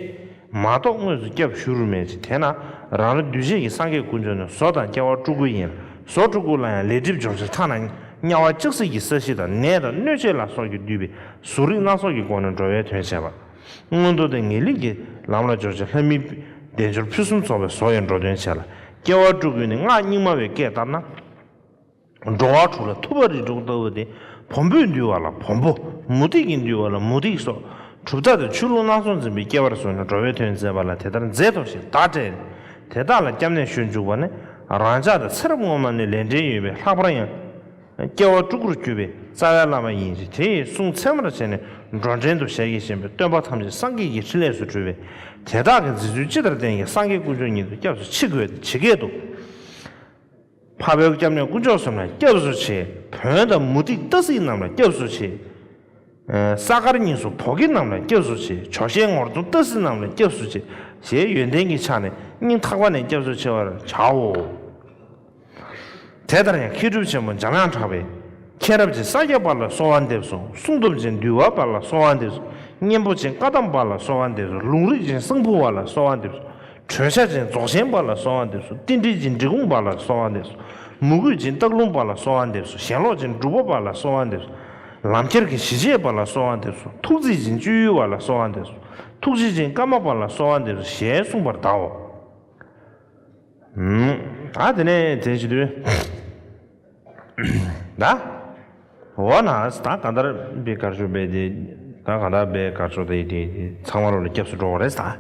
མ་གཏོགས་དངོས་སུ་སྐྱབས་ཞུ་རུ་མེད་ཅེས་དེས་ན་རང་རེ་གདུལ་བྱའི་གི་སངས་རྒྱས་ཀུན་སྤྱོད་ནི་བཟོ་དང་སྐྱ་བ་སྤྲུལ་སྐུ་ཡིན་ལ་བཟོ་སྤྲུལ་སྐུ་ལ་ཡང་ལས་སྒྲིབ་སྦྱོང་ཕྱིར་ཐ་ན་དམྱལ་བ་ལྕགས་བསྲེགས་ཀྱི་ས་གཞི་དང་ནད་དང་གནོད་བྱེད་ལ་སོགས་ཀྱིས་བསྡུས་པའི་གཟུགས་རིས་སྣ་ཚོགས་ཀྱི་སྒོ་ནས་འགྲོ་བའི་དོན་བྱེད་པ། མངོན་མཐོ་ལྡན་ངེས་ལེགས་ཀྱི་ལམ་ལ་སྦྱོར་བྱེད་ལྷ་མིའི་བདེ་འབྱོར་ཕུན་སུམ་ཚོགས་པའི་བཟོ་ཡི་འགྲོ་དོན་བྱེད་ལ་སྐྱ་བ་སྤྲུལ་སྐུ་ནི་སྔགས་རྙིང་མ་བའི་སྐད་ལྟར་ན། འགྲོ་བ་དྲུག་ལ་ཐུབ་པ་རིགས་དྲུག་ལྟ་བུ་སྟེ་བོང་བུས་འདུལ་བ་ལ་བོང་བུ། མུ་ཏིག་གིས་འདུལ་བ་ལ་མུ་ཏིག་སོགས་གྲུབ་མཐའ་དང་ཆུ་ཀླུང་སྣ་ཚོགས་འཛིན་པའི་སྐྱེ་བར་བཟུང་ནས་འགྲོ་བའི་དོན་མཛད་པ་ལ་དེ་ལྟར་མཛད་དོ་ཞེས་བརྡ་སྤྲད་ནས་དེ་དག་ལ་སྐྱབས་གནས་ཞུ་འཇུག་པ་ནི་རང་ཅག་དང་ཚེ་རབས་སྔོན་མ་ནས་ལས་འབྲེལ་ཡོད་པའི་ལྷག་པར་ཡང་སྐྱེ་བ་དྲུག་གུར་གྱུར་པའི་རྩ་བའི་བླ་མ་ཡིན་གྱི་དེའི་གསུང་ཚད་མར་བྱས་ནས་འགྲོ་འདྲེན་དུ་ཞལ་གྱིས་བཞེས་པའི་སྟོན་པ་ཐམས་ཅད་སངས་རྒྱས་ཀྱི་ཕྲིན་ལས་སུ་གྲུབ་པས་དེ་དག་གི་མཛད་ཚུལ་ཅི་ལྟར་བསྟན་ཀྱང་སངས་རྒྱས་དཀོན་མཆོག་ཉིད་དུ་སྐྱབས་སུ་མཆི་དགོས་ཏེ་ཇི་སྐད་དུ། འཕགས་བོད་སྐྱབས་གནས་དཀོན་མཆོག་གསུམ་ལ་སྐྱབས་སུ་མཆི། བོན་དང་མུ་ཏིག་རྟ་གཟིག་རྣམས་ལ་སྐྱབས་སུ་མཆི། ས་དཀར་གཉིས་སུ་བོ་གེ་རྣམས་ལ་སྐྱབས་སུ་མཆི། ཇོ་ཤས་ངོར་སྟོང་རྟ་གཟིག་རྣམས་ལ་སྐྱབས་སུ་མཆི། ཞེས་ཡོན་ཏན་གྱི་ཕྱག་ནས་སྙིང་ཐག་པ་ནས་སྐྱབས་སུ་མཆི་བར་བྱའོ། དེ་ལྟར་ཡང་མཁས་གྲུབ་ཆེན་པོ་འཇམ་དབྱངས་གྲགས་པས། མཁྱེན་རབ་ཅན་ས་སྐྱ་པ་ལ་གསོལ་བ་འདེབས་སོ་གསུང་སྟོབས་ཅན་འདུལ་བ་པ་ལ་གསོལ་བ་འདེབས་སོ་གཉན་པོ་ཆེན་བཀའ་གདམས་པ་ལ་གསོལ་བ་འདེབས་སོ་ལུང་རིག་ཅན་གསང་ཕུ་བ་ལ་གསོལ་བ་འདེབས་སོ། གྲོས་བྱ་ཅན་རྫོགས་ཆེན་པ་ལ་སོགས་བ་འདེབས་སོ་ཏིལ་འབྲིལ་ཅན་འབྲི་གུང་པ་ལ་སོགས་བ་འདེབས་སོ་མུ་གུས་ཅན་སྟག་ལུང་པ་ལ་སོགས་བ་འདེབས་སོ་ཞེན་ལོག་ཅན་སྒྲུབ་པོ་པ་ལ་སོགས་བ་འདེབས་སོ་ལམ་ཁྱེར་གྱི་ཞི་བྱེད་པ་ལ་སོགས་བ་འདེབས་སོ་ཐུགས་རྩིས་ཅན་སྤྱོད་ཡུལ་བ་ལ་སོགས་བ་འདེབས་སོ་ཐུགས་རྗེ་ཅན་ཀརྨ་པ་ལ་སོགས་བ་འདེབས་སོ་ཞེས་གསུངས་པར་གདའོ། ཨ་དེ་ནས་དེ་བཞིན་དུ། ད་འོ་ན་ད་གང་ལྟར་བའི་དགའ་ཕྱོགས་པས་དེ་ད་གང་ལྟར་བའི་དགའ་ཕྱོགས་དེ་དེ་ཚང་མ་རོ་ལ་སྐྱབས་སུ་འགྲོ་བ་རེད་ད།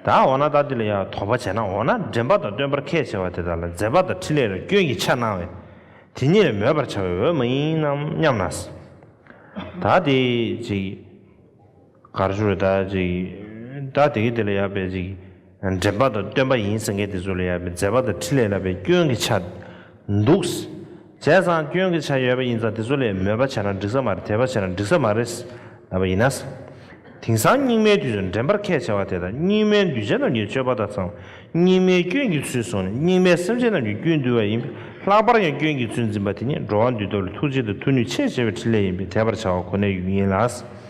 ད་འོ་ན་ད་འདི་ལ་ཡང་དོགས་པ་བྱས་ན་འོ་ན་འདྲེན་པ་དང་སྟོན་པར་ཁས་འཆེ་བ་དེ་དག་ལ་མཛད་པ་དང་འཕྲིན་ལས་ལ་སྐྱོན་གྱི་ཆ་སྣང་བས་དེ་ཉིད་ལ་མོས་པར་བྱ་བའི་འོས་མ་ཡིན་ནམ་སྙམ་ན། ད་དེ་ཅིག། གར་བྱུང་བའི་བདག་ཅིག་གིས། བདག་དེ་གའི་དེ་ལ་ཡར་འབད་ཅིག། འདྲེན་པ་དང་སྟོན་པ་ཡིན་ཟེར་མཁན་དེ་ཚོ་ལ་ཡར་འབད་མཛད་པ་དང་འཕྲིན་ལས་ལབ་པའི་སྐྱོན་གྱི་ཆ། འདུག། བྱས་ཙང་སྐྱོན་གྱི་ཆ་ཡོད་པ་ཡིན་ཙང་དེ་ཚོ་ལས་མོས་པ་བྱས་ན་འགྲིག་ས་མ་རེད་དད་པ་བྱས་ན་འགྲིག་ས་མ་རེད། ལབ་པ་ཡིན་ན། དེང་སང་སྙིགས་མའི་དུས་སུ་འདྲེན་པར་ཁས་འཆེ་བ་དེ་དང་སྙིགས་མའི་འདུས་བྱས་རྣམས་ཀྱི་སྤྱོད་པ་དག་ཙམ་སྙིགས་མའི་སྐྱོན་གྱི་ཚུལ་བཟུང་ནས་སྙིགས་མའི་སེམས་ཅན་རྣམས་ཀྱི་རྒྱུད་འདུལ་བ་ཡིན་པས་ལྷག་པར་ཡང་སྐྱོན་གྱི་ཚུལ་འཛིན་པ་དེ་ཉིད་འགྲོ་བ་འདུལ་ཐབས་ལ་ཐུགས་རྗེ་དང་མཐུ་ནུས་ཆེས་ཆེ་བའི་འཕྲིན་ལས་ཡིན་པས་དད་པར་བྱ་བ་ཁོ་ནའི་ཡུལ་ཡིན་ལ།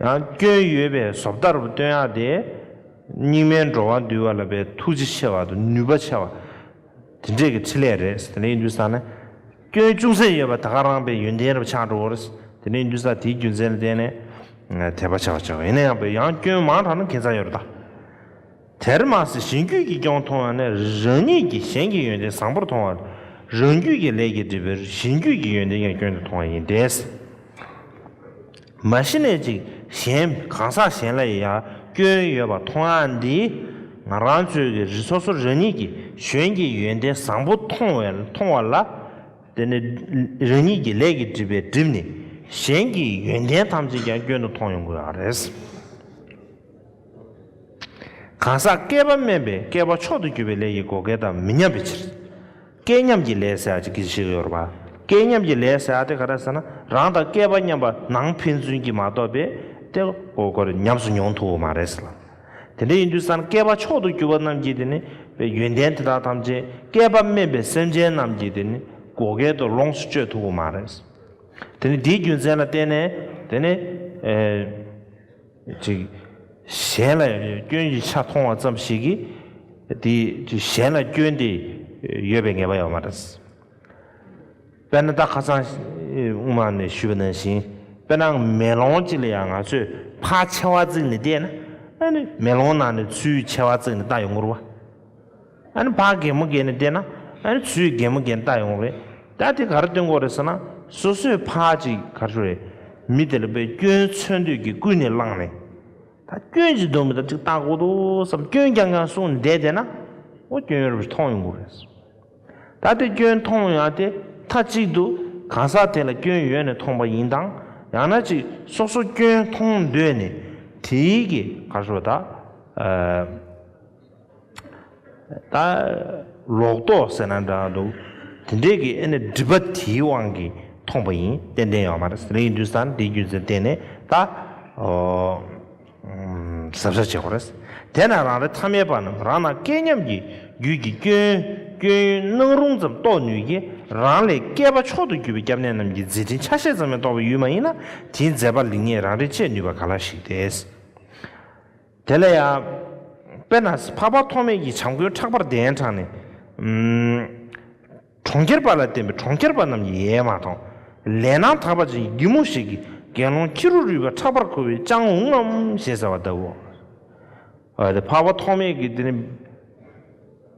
ཡང་སྐྱོན་ཡོད་པའི་ཟོབ་ལྟར་བུ་སྟོན་ཡག་སྟེ། སྙིགས་མའི་འགྲོ་བ་འདུལ་བ་ལ་བའི་ཐུགས་རྗེ་ཆེ་བ་དང་ནུས་པ་ཆེ་བ། དེ་འདྲས་ཀྱི་ཕྲིན་ལས་རེད། དེ་ནས་འདུན་ས་ནི། སྐྱོན་ཅུང་ཟད་ཡོད་པ་དེ་ག་རང་བའི་ཡོན་ཏན་རབ་འཆང་འགྲོ་བོ་རེད། དེ་ནས་འདུན་ས་དེའི་རྒྱུ་མཚན་ལ་བརྟེན་ནས། དད་པ་ཆེ་བ་ཆེ་བ་ཡིན་ན་ཡང་བའི་ཡང་སྐྱོན་མང་དྲགས་ན་གན་ས་ཡོད་རེད་ད། དེར་མ་ཟད་གཞན་རྒྱུད་ཀྱི་སྐྱོང་མཐོང་བ་ནི་རང་ཉིད་ཀྱིས་གཞན་གྱི་ཡོན་ཏན་བཟང་པོར་མཐོང་བ། རང་རྒྱུད་ཀྱི་ལས་ཀྱི་སྒྲིབ་པས་གཞན་རྒྱུད་ཀྱི་ཡོན་ཏན་ཀྱང་སྐྱོན་དུ་མཐོང་བ་ཡིན་ཏེ། མ་གཞི་ནས་ཅིག་གཞན་གང་ཟག་གཞན་ལ་ཡང་སྐྱོན་ཡོད་པར་མཐོང་བ་འདིས་ང་རང་ཚོས་ཀྱི་རི་སོ་སོར་རང་ཉིད་ཀྱིས་གཞན་གྱི་ཡོན་ཏན་བཟང་པོ་མཐོང་བས་མཐོང་བ་ལ། དེ་ནི་རང་ཉིད་ཀྱི་ལས་ཀྱི་སྒྲིབ་པས་བསྒྲིབས་ནས་གཞན་གྱི་ཡོན་ཏན་ཐམས་ཅད་ཀྱང་སྐྱོན་དུ་མཐོང་ཡོང་གི་ཡོད་རེད། གང་ཟག་བསྐལ་པ་དམན་པས་བསྐལ་པ་མཆོག་ཏུ་གྱུར་པའི་ལས་ཀྱི་བགོ་སྐལ་དང་མི་མཉམ་པའི་ཕྱིར། སྐལ་མཉམ་གྱི་ལས་ཟེར་བ་ཅིག་ཞིག་ཡོད་པ། སྐལ་མཉམ་གྱི་ལས་ཟེར་བ་དེ་ག་རེ་ཟེར་ན་རང་དང་བསྐལ་པ་མཉམ་པ་ནང་ཕན་ཚུན་གྱིས་མ་གཏོགས་པའི་དེ་གོ་སྐོར་ཉམས་སུ་མྱོང་ཐུབ་བོ་མ་རེད་ལ། དེ་འདྲ་ཡིན་དུས་སམ་བསྐལ་པ་མཆོག་ཏུ་གྱུར་པ་རྣམས་ཀྱིས་དེ་ནི་པའི་ཡོན་ཏན་དེ་དག་ཐམས་ཅད་བསྐལ་པ་དམན་པའི་སེམས་ཅན་རྣམས་ཀྱི་དེ་ནི་བགོ་སྐལ་དུ་ལོངས་སུ་སྤྱོད་ཐུབ་བོ་མ་རེད། དེ་ནི་དེའི་རྒྱུ་མཚན་ལ་བརྟེན་ནས་དེ་ནི། ཅིག། གཞན་ལ་ཡང་སྐྱོན་གྱི་ཆ་མཐོང་བ་ཙམ་ཞིག་གིས་དེ་གཞན་ལ་སྐྱོན་དེ་ཡོད་པའི་ངེས་པ་ཡོད་མ་རེད། དཔེར་ན་ད་ཁ་སང་དབུ་མ་ནས་ཞུས་པ་ནང་བཞིན་དཔེར་ན་མེ་ལོང་གཅིག་ལ་ཡང་ང་ཚོས་ཕ་ཆེ་བ་བརྩིགས་ནས་བལྟས་ན། མེ་ལོང་ནང་ནས་ཚུལ་ཆེ་བ་བརྩིགས་ནས་ལྟ་ཡོང་ངོར་བ། ཨ་ཕ་རྒན་མོ་རྒན་ནས་བལྟས་ན་ཨ་ཚུའི་རྒན་མོ་རྒན་བལྟ་ཡོང་རེད་ད་དེ་ག་རེ་སྟོན་དགོས་རེད་ཟེར་ན་སོ་སོས་ཕ་ཅིག་ག་རེ་རེད་མི་དེ་ལ་བས་སྐྱོན་འཚོལ་འདོད་ཀྱིས་ཀུན་ནས་བསླངས་ནས་ད་སྐྱོན་ཅིག་འདོན་མི་ད་ཅིག་བལྟ་དགོས་འདུག་བསམ་སྐྱོན་རྐྱང་རྐྱང་གསུང་བསྡད་བསྡད་ན་འོ་སྐྱོན་ཡོད་རེད་པས་མཐོང་ཡོང་དགོས་རེད་ཟེར་ད་དེ་སྐྱོན་མཐོང་ཡང་དེ་མཐའ་གཅིག་ཏུ་གང་ཟག་དེ་ལ་སྐྱོན་ཡོད་ནས་མཐོང་པ་ཡིན་དང་ཡང་ན་ཅིག་སོ་སོ་སྐྱོན་མཐོང་འདོད་ནས་དེའི་ག་རེ་རེད་བལྟ་ད་ལོག་རྟོག་ཟེར་ན་འདྲ་འདུག་དེ་འདྲའི་གི་ཨེ་ནི་སྒྲིབ་པ་དེའི་དབང་གིས་མཐོང་པ་ཡིན་ཏན་ཏན་ཡོད་མ་རེད་རེད་འདུག་ས་འདིའི་རྒྱུ་མཚན་བསྟན་ནས་ད་གཟབ་གཟབ་བྱེད་དགོས་རེད་དེས་ན་རང་རེ་ཐ་མལ་པ་རྣམས་རང་ནང་སྐལ་མཉམ་གྱི་རྒྱུད་ཀྱི་སྐྱོན་སྐྱོན་ཡོན་སྣང་རུང་ཙམ་རྟོགས་ནུས་ཀྱི་རང་ལས་སྐལ་པ་མཆོག་ཏུ་གྱུར་པའི་སྐྱབས་གནས་རྣམས་ཀྱི་མཛད་འཕྲིན་ཆ་ཤས་ཙམ་ཡང་རྟོགས་པའི་ཡུལ་མ་ཡིན་ན་དེའི་མཛད་པ་ལེགས་ཉེས་རང་རེས་དཔྱད་ནུས་པ་ག་ལ་ཞིག་རེད། དེ་ལ་ཡང། དཔེར་ན་འཕགས་པ་ཐོགས་མེད་ཀྱིས་བྱམས་མགོན་ཕྲག་པར་གདན་དྲངས་ནས། གྲོང་ཁྱེར་པ་ལ་བསྟན་པས་གྲོང་ཁྱེར་པ་རྣམས་ཀྱིས་ཡས་མ་དང། ལས་སྣང་དག་པ་ཅན་གྱི་རྒྱུད་མོ་ཞིག་གིས་དགེ་སློང་ཁྱི་རོ་རུས་པ་ཕྲག་པར་འཁུར་བའི་སྤྱང་འུག་ངམ་ཞེས་ཟེར་བ་གདབ་བོ། འཕགས་པ་ཐོགས་མེད་ཀྱིས་དེ་ནས།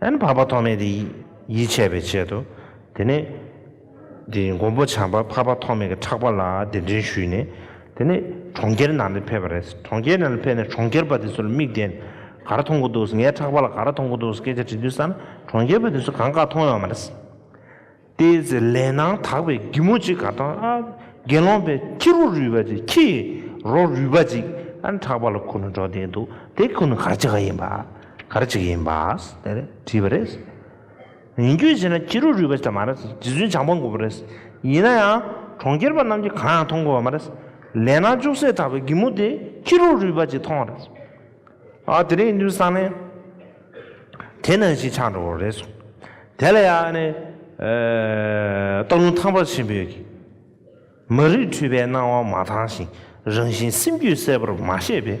ཨན་བར་པ་ཐོགས་མེད་དེ་ཡིད་ཆེས་པའི་ཆེད་དུ། དེ་ནས། དེ་མགོན་པོ་བྱམས་པ་བར་པ་ཐོགས་མེད་ཀྱི་ཕྲག་པ་ལ་གདན་འདྲེན་ཞུས་ནས། དེ་ནས་གྲོང་ཁྱེར་ནང་དུ་ཕེབས་པ་རེད། གྲོང་ཁྱེར་ནང་དུ་ཕེབས་ནས་གྲོང་ཁྱེར་པ་དེ་ཚོ་ལ་མིག་བལྟས་ནས། ག་ར་མཐོང་གི་འདུག་ངའི་ཕྲག་པ་ལ་ག་ར་མཐོང་གི་འདུག་སྐད་ཆ་དྲིས་དུས་ས་ན་གྲོང་ཁྱེར་པ་དེ་ཚོ་གང་ག་མཐོང་ཡོང་བ་རེད། དེའི་ཚེ་ལས་སྣང་དག་པའི་སྒྱུ་མོ་གཅིག་ག་དང་ཨ། དགེ་སློང་པའི་ཁྱི་རོ་རུས་པ་ཅིག་ཁྱི་ཡི་རོ་རུས་པ་ཅིག་ཨ་འཕྲག་པ་ལ་ཁུ་ནུ་འགྲོ་དེ་འདུག་དེ་ཁུ་ནུ་གར་གཅིག་ག་ཡིན་པ་གར་གཅིག་ཡིན་པ་དེ་རེ་དྲིས་པ་རེད། ཡིན་རྒྱུ་ཞེ་ན་ཁྱི་རོ་རུས་པ་ཅིག་མ་རེད་རྗེ་བཙུན་བྱང་པ་མགོན་པོ་རེད། ཡིན་ན་ཡང་གྲོང་ཁྱེར་པ་རྣམས་ཀྱིས་གང་ཡང་མཐོང་དགོས་པ་མ་རེད། ལས་སྣང་ཅུང་ཟད་དག་པའི་སྒྱུ་མོ་དེ་ཁྱི་རོ་རུས་པ་ཅིག་མཐོང་བ་རེད། ཨ་དེ་རེ་ཡིན་དུས་སང་ནས། དེ་ནང་བཞིན་ཆགས་འགྲོ་བ་རེད་གསུངས། དེ་ལ་ཡང་ནི། སྟག་ལུང་ཐང་པར་ཆེན་པོས་ཀྱི། མ་རིག་འཁྲུལ་པའི་སྣང་བ་མ་དྭངས་ཤིང་རང་བཞིན་སེམས་རྒྱུད་གསལ་པོར་མ་ཤེས་པས།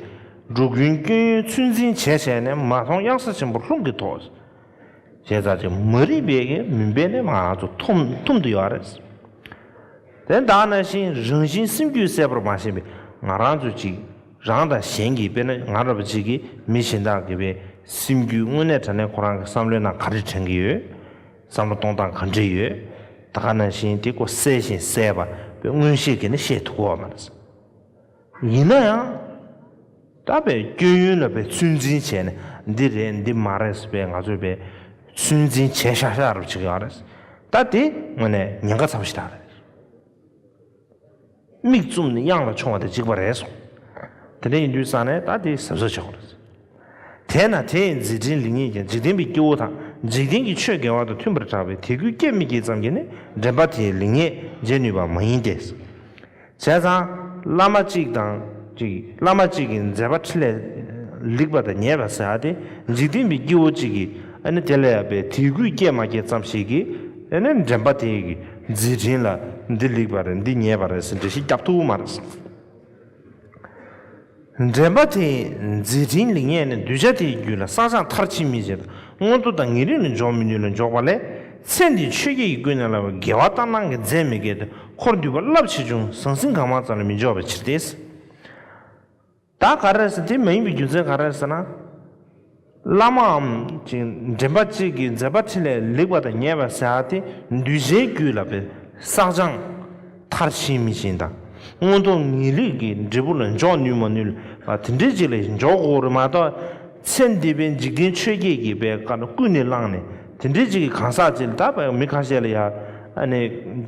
འགྲོ་ཀུན་སྐྱོན་ཡོན་ཚོད་འཛིན་བྱས་བྱས་ནས་མ་མཐོང་གཡང་ས་ཆེན་པོ་ལྷུང་གིས་ཐོགས། བྱས་ཙང་ཅི་མ་རིག་པའི་ཀྱི་མུན་པས་ནི་ང་ཚོ་འཐོམ་འཐོམ་དུ་ཡོད་པ་རེད། དེ་བདག་ནང་བཞིན་རང་བཞིན་སེམས་རྒྱུད་གསལ་པོར་མ་ཤེས་པས་ང་རང་ཚོ་ཅིག། རང་དང་གཞན་གྱིས་དཔེར་ན་ང་ར་བ་ཅིག་གིས་མི་གཞན་དག་གི་བའི་སེམས་རྒྱུད་དངོས་གནས་དྲན་ནས་ཁོ་རང་གི་བསམ་བློའི་ནང་ག་རེ་དྲན་གྱི་ཡོད། བསམ་བློ་གཏོང་སྟངས་ག་འདྲས་ཡོད། ད་ག་ནང་བཞིན་དེ་ཀོ་གསལ་བཞིན་གསལ་བ་བའི་མངོན་ཤེས་ཀྱིས་ནི་ཤེས་ཐུབ་གོ་མ་རེད། ཡིན་ན་ཡང། ད་བའི་སྐྱོན་ཡོན་ལ་བའི་ཚོད་འཛིན་བྱས་ནས་འདི་རེད་འདི་མ་རེད་བས་ང་ཚོས་བའི་ཚོད་འཛིན་བྱས་ཤག་ཤག་ར་བ་ཅིག་གི་ཨ་རེད། ད་དེ་དངོས་གནས་ཉེན་ཁ་ཚ་བ་ཞིག་ད་རེད། མིག་བཙུམས་ནས་གཡང་ལ་མཆོང་བ་དེ་འཇིགས་པ་རེད་གསུངས། དེ་འདྲ་ཡིན་དུས་བསམ་ནས་ད་དེ་གཟབ་གཟབ་བྱ་དགོས། དེས་ན་དེས་མཛད་འཕྲིན་ལས་ཉིད་ཀྱང་འཇིག་རྟེན་པའི་སྐྱེ་བོ་དང་འཇིག་རྟེན་གྱི་ཆོས་འགལ་བ་དང་མཐུན་པར་གྲགས་པས་དེ་ཀུན་སྐྱེད་མི་སྐྱེད་ཙམ་གྱིས་ནི་འདྲེན་པ་དེའི་ལེགས་ཉེས་འབྱེད་ནུས་པ་མ་ཡིན་ཏེ། བྱས་ཙང་བླ་མ་གཅིག་དང་གཅིག་བླ་མ་གཅིག་གིས་མཛད་པ་ཁྲི་ལས་ལེགས་པ་དང་ཉེས་པ་བསལ་ཏེ་འཇིག་རྟེན་པའི་སྐྱེ་བོ་གཅིག་གིས་ནི་དེ་ལེགས་པས་དེ་ཀུན་སྐྱེད་མ་སྐྱེད་ཙམ་ཞིག་གིས་ནི་འདྲེན་པ་དེའི་རྫས་དྲིན་ལ་འདི་ལེགས་པ་རེད་འདི་ཉེས་པ་རེད་ཟེར་འབྲེལ་ཤེས་རྒྱབ་ཐུག་མ་རེད། འདྲེན་པ་དེས་རྫས་དྲིན་ལེགས་ཉེས་ནི་གདུལ་བྱ་དེའི་རྒྱུད་ལ་བསགས་སྦྱངས་མཐར་ཕྱིན་མི་བྱེད། མངོན་མཐོ་དང་ངེས་རིག་ནི་འཇོག་མི་ནུས་ལ་འཇོག་པ་ལས་ཚེ་འདིའི་ཆོས་བརྒྱད་ཀྱི་ཀུན་ནས་བསླབ་པའི་དགེ་བ་ལྟར་སྣང་གི་རྫས་མི་འགེལ་ཏེ་འཁོར་འདུས་པ་རླབས་ཆེ་ཆུང་ཟང་ཟིང་གང་མང་ཙམ་ལས་མི་འཇོག་པའི་ཕྱིར་ཏེ། བདག་ག་རེ་ཟེར་དེ་མ་ཡིན་པའི་རྒྱུ་མཚན་ག་རེ་ཟེར་ན། བླ་མའམ་ཅིང་འདྲེན་པ་གཅིག་གིས་མཛད་པ་ཕྲིན་ལས་ལེགས་པ་དང་ཉེས་པ་བསལ་བ་དེ་འདུལ་བྱའི་རྒྱུད་ལ་པའི་བསགས་སྦྱང། མཐར་ཕྱིན་མི་ཕྱིན་དང་མངོན་མཐོ་ངེས་ལེགས་ཀྱི་འབྲས་བུ་ལ་འཇོག་ནུས་མ་ནུས་ལ་དེ་འབྲེལ་གཅིག་ལས་འཇོག་གོ་རེ་མ་གཏོགས། ཚེ་འདས་པའི་འཇིག་རྟེན་ཆོས་བརྒྱད་ཀྱི་པའི་བཀའ་ཀུན་ནས་བླངས་ནས་དེ་འབྲེལ་གཅིག་གི་གང་ཟག་ཅིག་ལ་དག་པའི་མི་ཁ་ཤས་ལ་ཡང།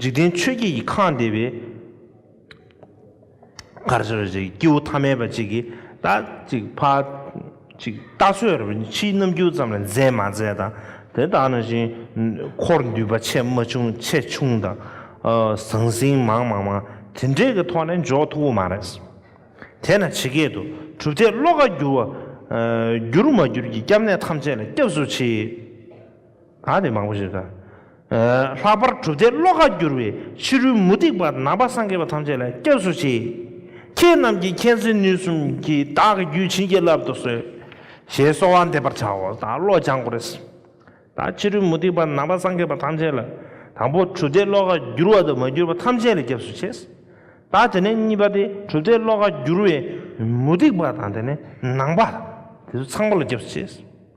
འཇིག་རྟེན་ཆོས་བརྒྱད་ཀྱི་ཁང་འདས་པའི། གར་བྱེད་པ་ཅིག་སྐྱེས་བུ་ཐ་མལ་པ་ཅིག་གིས་ད་ཅིག་ཕ། ཅིག་རྟ་བསོད་ར་བའི་ཕྱིའི་རྣམ་འགྱུར་ཙམ་ལ་མཛེས་མ་མཛེས་དང་དེ་ལྟ་ན་བཞིན་འཁོར་འདུས་པ་ཆེ་མ་ཆུང་ཆེ་ཆུང་དང། ཟང་ཟིང་མང་མ་མང་དེ་འདྲའི་གི་ཐོག་ནས་འཇོག་ཐུབ་པོ་མ་རེད། དེས་ན་ཇི་སྐད་དུ་གྲུབ་མཐས་བློ་ཁ་བསྒྱུར་བ། བསྒྱུར་མ་བསྒྱུར་གྱི་སྐྱབས་གནས་ཐམས་ཅད་ལ་སྐྱབས་སུ་མཆི། ཨ་དེ་མང་པོ་ཞིག་དང། ལྷག་པར་གྲུབ་མཐའི་བློ་ཁ་བསྒྱུར་བའི་ཕྱི་རོལ་མུ་སྟེགས་པ་ནང་པ་སངས་རྒྱས་པ་ཐམས་ཅད་ལ་སྐྱབས་སུ་མཆི། ཁྱེད་རྣམས་ཀྱིས་མཁྱེན་བརྩེ་ནུས་གསུམ་གྱིས་བདག་གི་རྒྱུད་བྱིན་གྱིས་བརླབ་ཏུ་གསོལ། ཞེས་གསོལ་བ་འདེབས་པར་བྱའོ་ད་བློ་སྦྱང་དགོས་རེད། ད་ཕྱི་རོལ་མུ་སྟེགས་པ་ནང་པ་སངས་རྒྱས་པ་ཐམས་ཅད་ལ་དང་པོ་གྲུབ་མཐའི་བློ་ཁ་བསྒྱུར་བ་དང་མ་བསྒྱུར་བ་ཐམས་ཅད་ལ་སྐྱབས་སུ་མཆི། ད་དེ་ནས་གཉིས་པ་སྟེ་གྲུབ་མཐའི་བློ་ཁ་བསྒྱུར་བའི་མུ་སྟེགས་པ་དང་དེ་ནས་ནང་པ་དེ་ཚོ་ཚང་པོ་ལ་སྐྱབས་སུ་མཆི།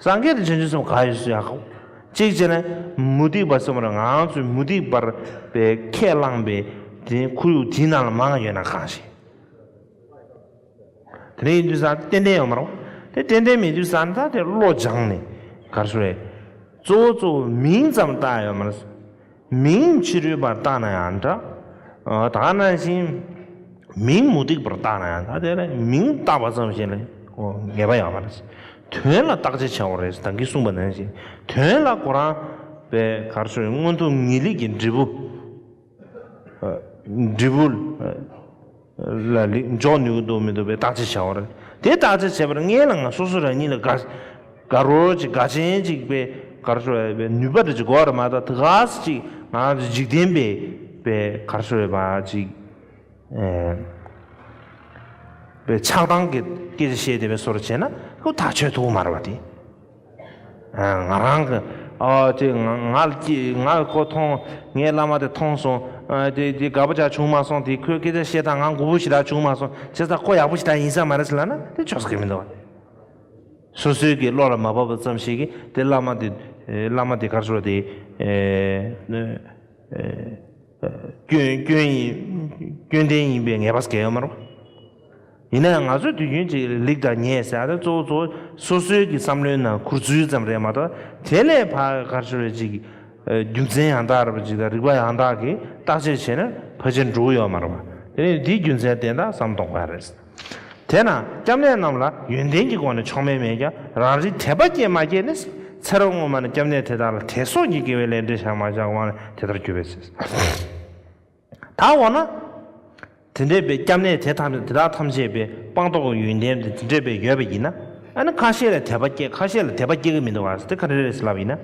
སངས་རྒྱས་དང་ཆོས་འབྱུང་གསུམ་ག་ཡོད་སུ་ཡང་ཁོ། གཅིག་ཅེ་ན། མུ་སྟེགས་པ་གསུམ་རང་ང་རང་ཚོས་མུ་སྟེགས་པར་པས་ཁས་བླངས་པའི་དེ་ཁོར་ཡུག་དེའི་ནང་ལ་མང་ཡོད་ན་གང་ཞིག། དེ་འདྲ་ཡིན་དུས་སང་ཏན་ཏན་ཡོང་མི་རུང། དེ་ཏན་ཏན་མེད་དུས་སང་ད་དེ་བློ་སྦྱངས་ནས་གར་སོང་བས། གཙོ་བོ་གཙོ་བོ་མིང་ཙམ་བཏགས་ཡོད་མ་རེད། མིང་ཕྱི་རོལ་པར་བཏགས་ན་ཡང་འདྲ། དག་ན་བཞིན། མིང་མུ་སྟེགས་པར་བཏགས་ན་ཡང་འདྲ། དེ་ལ་མིང་བཏགས་པ་ཙམ་ཞིག་ལ་ངེས་པ་ཡང་མ་རེད། དོན་ལ་བརྟག་དཔྱད་བྱའོ་རེད་དང་གིས་གསུངས་པ་ནང་བཞིན་དོན་ལ་གོ་རང། པའི་གར་སོགས་མངོན་མཐོ་ངེས་ལེགས་ཀྱི་འབྲས་བུ། འབྲས་བུ། ལ་ལེགས་འཇོག་ནུས་འདུག་མི་འདུག་པའི་བརྟག་དཔྱད་བྱ་བ་རེད། དེ་བརྟག་དཔྱད་བྱས་པར་ངའི་ལ་ང་སོ་སོ་རང་ཉིད་ལ་དགའ། དགའ་རོ་ཅིག་དགའ་ཆེན་ཅིག་པའི་གར་སོ་ཡོད་པའི་ནུས་པ་རེ་ཅིག་གོ་རེ་མ་ལྟ་དུ་ག་ཟེ་ཅིག་ང་རེ་འཇིག་རྟེན་པའི་པའི་གར་སོ་ཡོད་པ་ཅིག་པའི་ཆགས་སྡང་གི་སྐད་ཆ་བཤད་བསྡད་པའི་སོ་རེ་བྱས་ན་ཧུ་ཐག་ཆོད་ཐུག་མ་རེད་བ་དེ། ང་རང་གི། ཅེས་ངག་ཁོ་མཐོང། ངས་བླ་མ་དེ་མཐོང་སོང། དེ་དེ་དགའ་པོ་ཅག་བྱུང་མ་སོང་དེ་ཁོས་སྐད་ཆ་བཤད་སྟངས་ང་མགུ་བོ་ཞིག་ལ་བྱུང་མ་སོང་བྱས་ཙང་ཁོ་ཡག་པོ་ཞིག་ད་ཡིན་ས་མ་རེད་ཟེར་ལབ་ན་དེ་ཆོག་ས་ཁེལ་མི་འདུག་བ། སོ་སོའི་གི་བློ་ལ་མ་བབས་པ་ཙམ་ཞིག་གིས་དེ་བླ་མ་དེ། བླ་མ་དེ་གར་ཤོར་དེ། སྐྱོན་སྐྱོན་ཡིན་སྐྱོན་ལྡན་ཡིན་པའི་ངེས་པ་ས་ཁེལ་ཡོད་མ་རེད་བ། ཡིན་ན་ཡང་ང་ཚོས་དུས་རྒྱུན་གྱི་ལེགས་དང་ཉེས་བྱ་དེ་གཙོ་བོ་ཚོ་སོ་སོའི་གི་བསམ་བློའི་ནང་ཁུར་ཚུལ་ཙམ་རེད་མ་གཏོགས་དེ་ལས་ཕ་གར་ཞོར་བའི་ཅིག་རྒྱུ་མཚན་ཡང་དག་རེད་པ་ཅིག་དང་རིག་པ་ཡང་དག་གི་བརྟག་དཔྱད་བྱས་ན་ཕལ་ཆེར་འགྲུག་ཡོད་མ་རེད་པ་དེ་ནི་དེའི་རྒྱུ་མཚན་བསྟན་དང་བསམ་དོགས་པ་རེད། དེས་ན་སྐྱབས་གནས་རྣམས་ལ་ཡོན་ཏན་གྱི་སྒོ་ནས་ཕྱོགས་མེད་མེད་ཀྱང་རང་རིག་དད་པ་སྐྱེས་མ་སྐྱེས་ནི་ཚེ་རབས་སྔོན་མ་ནས་སྐྱབས་གནས་དེ་དག་ལ་དད་སོགས་ཀྱི་དགེ་བའི་ལས་འབྲས་བཞག་མ་བཞག་དབང་ལས་དེ་ལྟར་གྱུར་པའི་ཕྱིར། ད་འོ་ན། དེ་འདྲེས་པའི་སྐྱབས་གནས་དེ་དག་ནི་དེ་དག་ཐམས་ཅད་པའི་སྤངས་རྟོགས་ཀྱི་ཡོན་ཏན་དེ་འདྲེས་པའི་ཡོད་པ་ཡིན་ན། ཨ་ནི་ཁ་ཤས་ལ་དད་པ་སྐྱེ་ཁ་ཤས་ལ་དད་པ་སྐྱེ་གི་མི་འདུག་བ་དེ་ག་རེ་རེད་ལབ་ཡིན་ན།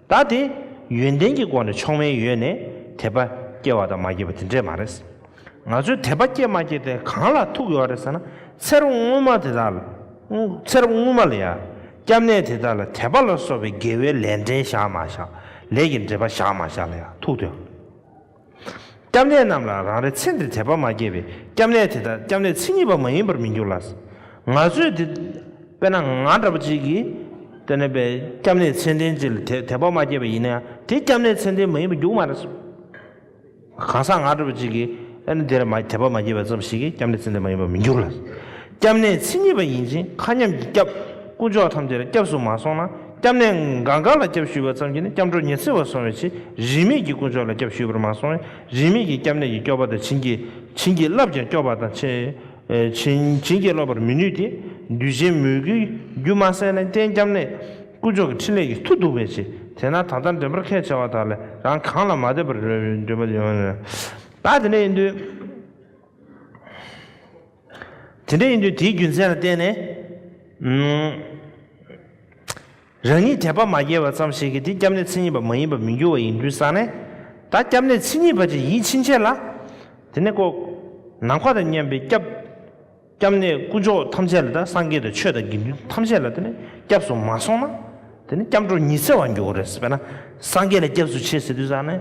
ད་དེ་ཡོན་ཏན་གྱི་སྒོ་ནས་མཆོག་དམན་ཡོད་ནས་དད་པ་སྐྱེ་བ་དང་མ་སྐྱེ་བ་དེ་འདྲེས་མ་རེད། ང་ཚོས་དད་པ་སྐྱེ་མ་སྐྱེ་དེ་གང་ལ་ཐུག་ཡོད་རེད་ཟེར་ན་ཚེ་རབས་སྔོན་མ་དེ་དག་ལ། ཚེ་རབས་སྔོན་མ་ལ་ཡང་སྐྱབས་གནས་དེ་དག་ལ་དད་པ་ལ་སོགས་པའི་དགེ་བའི་ལས་འབྲེལ་བཞག་མ་བཞག་ལས་ཀྱི་འབྲེལ་པ་བཞག་མ་བཞག་ལ་ཡང་ཐུག་དོན། སྐྱབས་གནས་རྣམས་ལ་རང་རེ་ཚེ་འདིར་དད་པ་མ་སྐྱེས་པས་སྐྱབས་གནས་དེ་དག་སྐྱབས་གནས་མཚན་ཉིད་པ་མ་ཡིན་པར་མི་འགྱུར་ལ། ང་ཚོས་དེ། དཔེར་ན་ང་འདྲ་བ་ཅིག་གིས། དེ་ནས་པའི་སྐྱབས་གནས་མཚན་ལྡན་ཅིག་ལ་དད་དད་པ་མ་སྐྱེས་པ་ཡིན་ན་ཡང་དེ་སྐྱབས་གནས་མཚན་ལྡན་མ་ཡིན་པ་འགྱུར་གི་མ་རེད། གང་ཟག་ང་འདྲ་བ་ཅིག་གིས། ཨ་ནི་དེ་ལ་མ་དད་པ་མ་སྐྱེས་པ་ཙམ་ཞིག་གིས་སྐྱབས་གནས་མཚན་ལྡན་མ་ཡིན་པར་མི་འགྱུར་ལ། སྐྱབས་གནས་མཚན་ཉིད་པ་ཡིན་ཅིང་མཁའ་མཉམ་གྱི་སྐྱབས། དཀོན་མཆོག་ཐམས་ཅད་ལ་སྐྱབས་སུ་མ་སོང་ན། སྐྱབས་གནས་འགའ་འགའ་ལ་སྐྱབས་ཞུས་པ་ཙམ་གྱིས་ནི་སྐྱབས་འགྲོ་ཉི་ཚེ་བར་སོང་བའི་ཕྱིར་རིས་མེད་ཀྱི་དཀོན་མཆོག་ལ་སྐྱབས་ཞུས་པར་མ་སོང་བས་རིས་མེད་ཀྱི་སྐྱབས་གནས་ཀྱི་སྐྱོབ་པ་དང་བྱིན་གྱིས་བྱིན་གྱིས་བརླབས་ཀྱང་སྐྱོབ་པ་དང་བྱིན་བྱིན་གྱིས་རློབ་པར་མི་ནུས་ཏེ་འདུས་བྱས་མོས་གུས་རྒྱུ་མ་གསལ་ལན་བརྟེན་སྐྱབས་གནས་དཀོན་མཆོག་གི་ཕྲིན་ལས་ཀྱི་མཐུ་གདུག་པའི་ཕྱིར་དེས་ན་ད་ལྟར་འདྲེན་པར་ཁས་འཆེ་བ་དག་ལས་རང་གང་ལ་མ་བལྟས་པར་འདོད་པ་ཡོད་ན། བདག་དེ་འདྲ་ཡིན་དུས། དེ་འདྲ་ཡིན་དུས་དེའི་རྒྱུ་མཚན་ལ་བརྟེན་ནས། རང་ཉིད་དད་པ་མ་སྐྱེས་བ་ཙམ་ཞིག་གིས་དེ་སྐྱབས་གནས་མཚན་ཉིད་པ་མ་ཡིན་པར་མི་འགྱུར་བ་ཡིན་དུས་བསམ་ནས། ད་སྐྱབས་གནས་མཚན་ཉིད་པ་ཅིག་ཡིད་ཕྱིན་ཆད་ལ། དེ་ནས་ཀོ། ནམ་མཁའ་དང་མཉམ་པའི་སྐྱབས། སྐྱབས་གནས་སྐུ་མཆོག་ཐམས་ཅད་ལ་དང་སངས་རྒྱས་དང་ཆོས་དང་དགེ་འདུན་ཐམས་ཅད་ལ་དེ་ནས་སྐྱབས་སུ་མ་སོང་ན། དེ་ནས་སྐྱབས་འགྲོ་ཉི་ཚེ་བར་འགྱུར་བ་རེད་ཟེར་བས་ན། སངས་རྒྱས་ལ་སྐྱབས་སུ་མཆི་ཟེར་དུས་བསམ་ནས།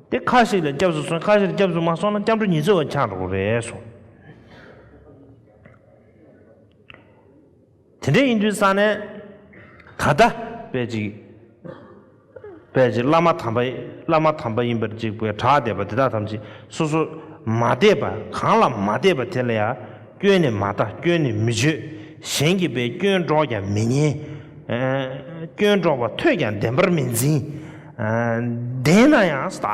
དེ་ཁ་ཞིག་ལ་སྐྱབས་སུ་སོང་ཁ་ཞིག་ལ་སྐྱབས་སུ་མ་སོང་ན་སྐྱབས་འགྲོ་ཉི་ཚེ་བ་འཆང་འགྲོ་རེད་གསུངས། དེ་འདྲ་ཡིན་དུས་ས་ནས་ད་ལྟ་བས་ཅིག་བས་ཅིག་བླ་མ་དམ་པ་བླ་མ་དམ་པ་ཡིན་པར་ཅིག་བས་གྲགས་བསྡད་པ་འདི་དག་ཐམས་ཅད་སོ་སོར་མ་བལྟས་པ་གང་ལ་མ་བལྟས་པ་དེ་ལ་ཡང་སྐྱོན་ནས་མ་ལྟ་སྐྱོན་ནས་མི་བརྗོད་གཞན་གྱི་བའི་སྐྱོན་སྒྲོགས་ཀྱང་མི་ཉན། སྐྱོན་སྒྲོགས་པ་ཐོས་ཀྱང་བདེན་པར་མི་འཛིན། བདེན་ན་ཡང་བདག་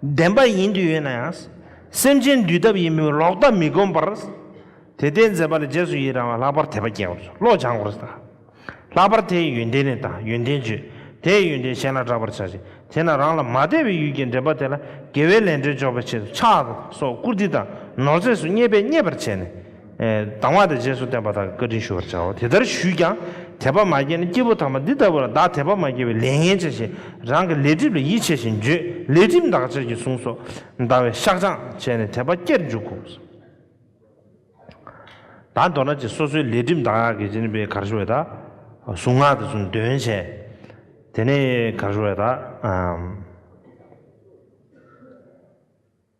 བདེན་པ་ཡིན་དུ་ཡོད་ན་ཡང་སེམས་ཅན་འདུལ་ཐབས་ཡིན་མོད་ལོག་ལྟ་མི་སྒོམ་པར། དེ་ལྟའི་མཛད་པ་ལ་རྗེས་སུ་ཡི་རང་བ་ལྷག་པར་དད་པ་སྐྱེ་བར་བྱ། བློ་སྦྱང་བར་བྱ། ལྷག་པར་དེའི་ཡོན་ཏན་ནི་དང་ཡོན་ཏན་བརྗོད། དེའི་ཡོན་ཏན་གཞན་ལ་བསྒྲག་པར་བྱ་ཞིང་དེས་ན་རང་ལ་མ་དད་པའི་ཡུལ་གྱི་འདྲེན་པ་དེ་ལ་དགེ་བའི་ལས་འདྲེན་འཇོག་པའི་ཆེད་དུ་ཕྱག་དང་སོགས་བཀུར་སྟི་དང་ནོར་རྫས་སུ་བརྙས་པས་མཉེས་པར་བྱས་ནས། སྡང་བ་དང་རྗེས་སུ་བསྟན་པ་དག་གི་བཀའ་དྲིན་ཞུ་བར་བྱའོ། དེ་ལྟར་ཞུས་ཀྱང་དད་པ་མ་སྐྱེས་ན་སྐྱེས་བུ་དམ་པ་འདི་ལྟ་བུ་ལ་བདག་དད་པ་མ་སྐྱེས་པའི་ལས་ངན་བྱ་ཞིང་རང་གི་ལས་སྒྲིབ་ལ་ཡིད་ཆེས་ཤིང་འགྱོད་ལས་སྒྲིབ་འདག་ཅེར་གྱིས་བཟུང་སོ། འདའ་བའི་བཤགས་སྦྱང་བྱས་ནས་དད་པ་སྐྱེར་འཇུག་གོ། ད་མདོར་ན་ཅི་སོ་སོའི་ལས་སྒྲིབ་འདག་གིས་ཅི་ནུས་པའི་གར་ཞུ་བས་དག། གཟུངས་སྔགས་དེ་ཚུན་འདོན་བྱས། དེ་ནས་གར་ཞུ་བས་དག།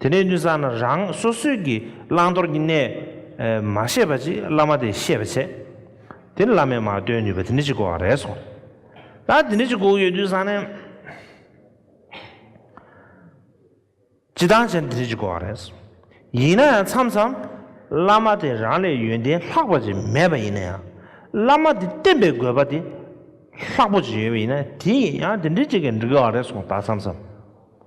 དེ་ནས་ནུས་བཟང་ན་རང་སོ་སོའི་གྱི་བླང་དོར་གྱི་གནས། མ་ཤེས་པ་ཅིག་བླ་མ་དེས་ཤེས་པར་བྱེད། དེ་ནི་བླ་མས་མ་སྟོན་ནུས་པ་དེ་འདྲ་ཅིག་སྒུག་རེས་སོ། ད་དེ་འདྲ་ཅིག་སྒུག་ཡོད་དུས་བཟང་ན། ཅི་ལྟར་བྱས་ནས་དེ་འདྲ་ཅིག་སྒུག་རེས། ཡིན་ན་ཡང་མཚམས་མཚམས། བླ་མ་དེ་རང་ལས་ཡོན་ཏན་ལྷག་པ་ཅིག་མེད་པ་ཡིན་ན་ཡང། བླ་མ་དེ་བསྟེན་པའི་དགོས་པ་དེ། ལྷག་པོ་ཅིག་ཡོད་པ་ཡིན་ན་དེ་ཡང་དེ་འདྲ་ཅིག་གིས་འགྲིག་གི་རེད་སོང་ད་མཚམས་མཚམས།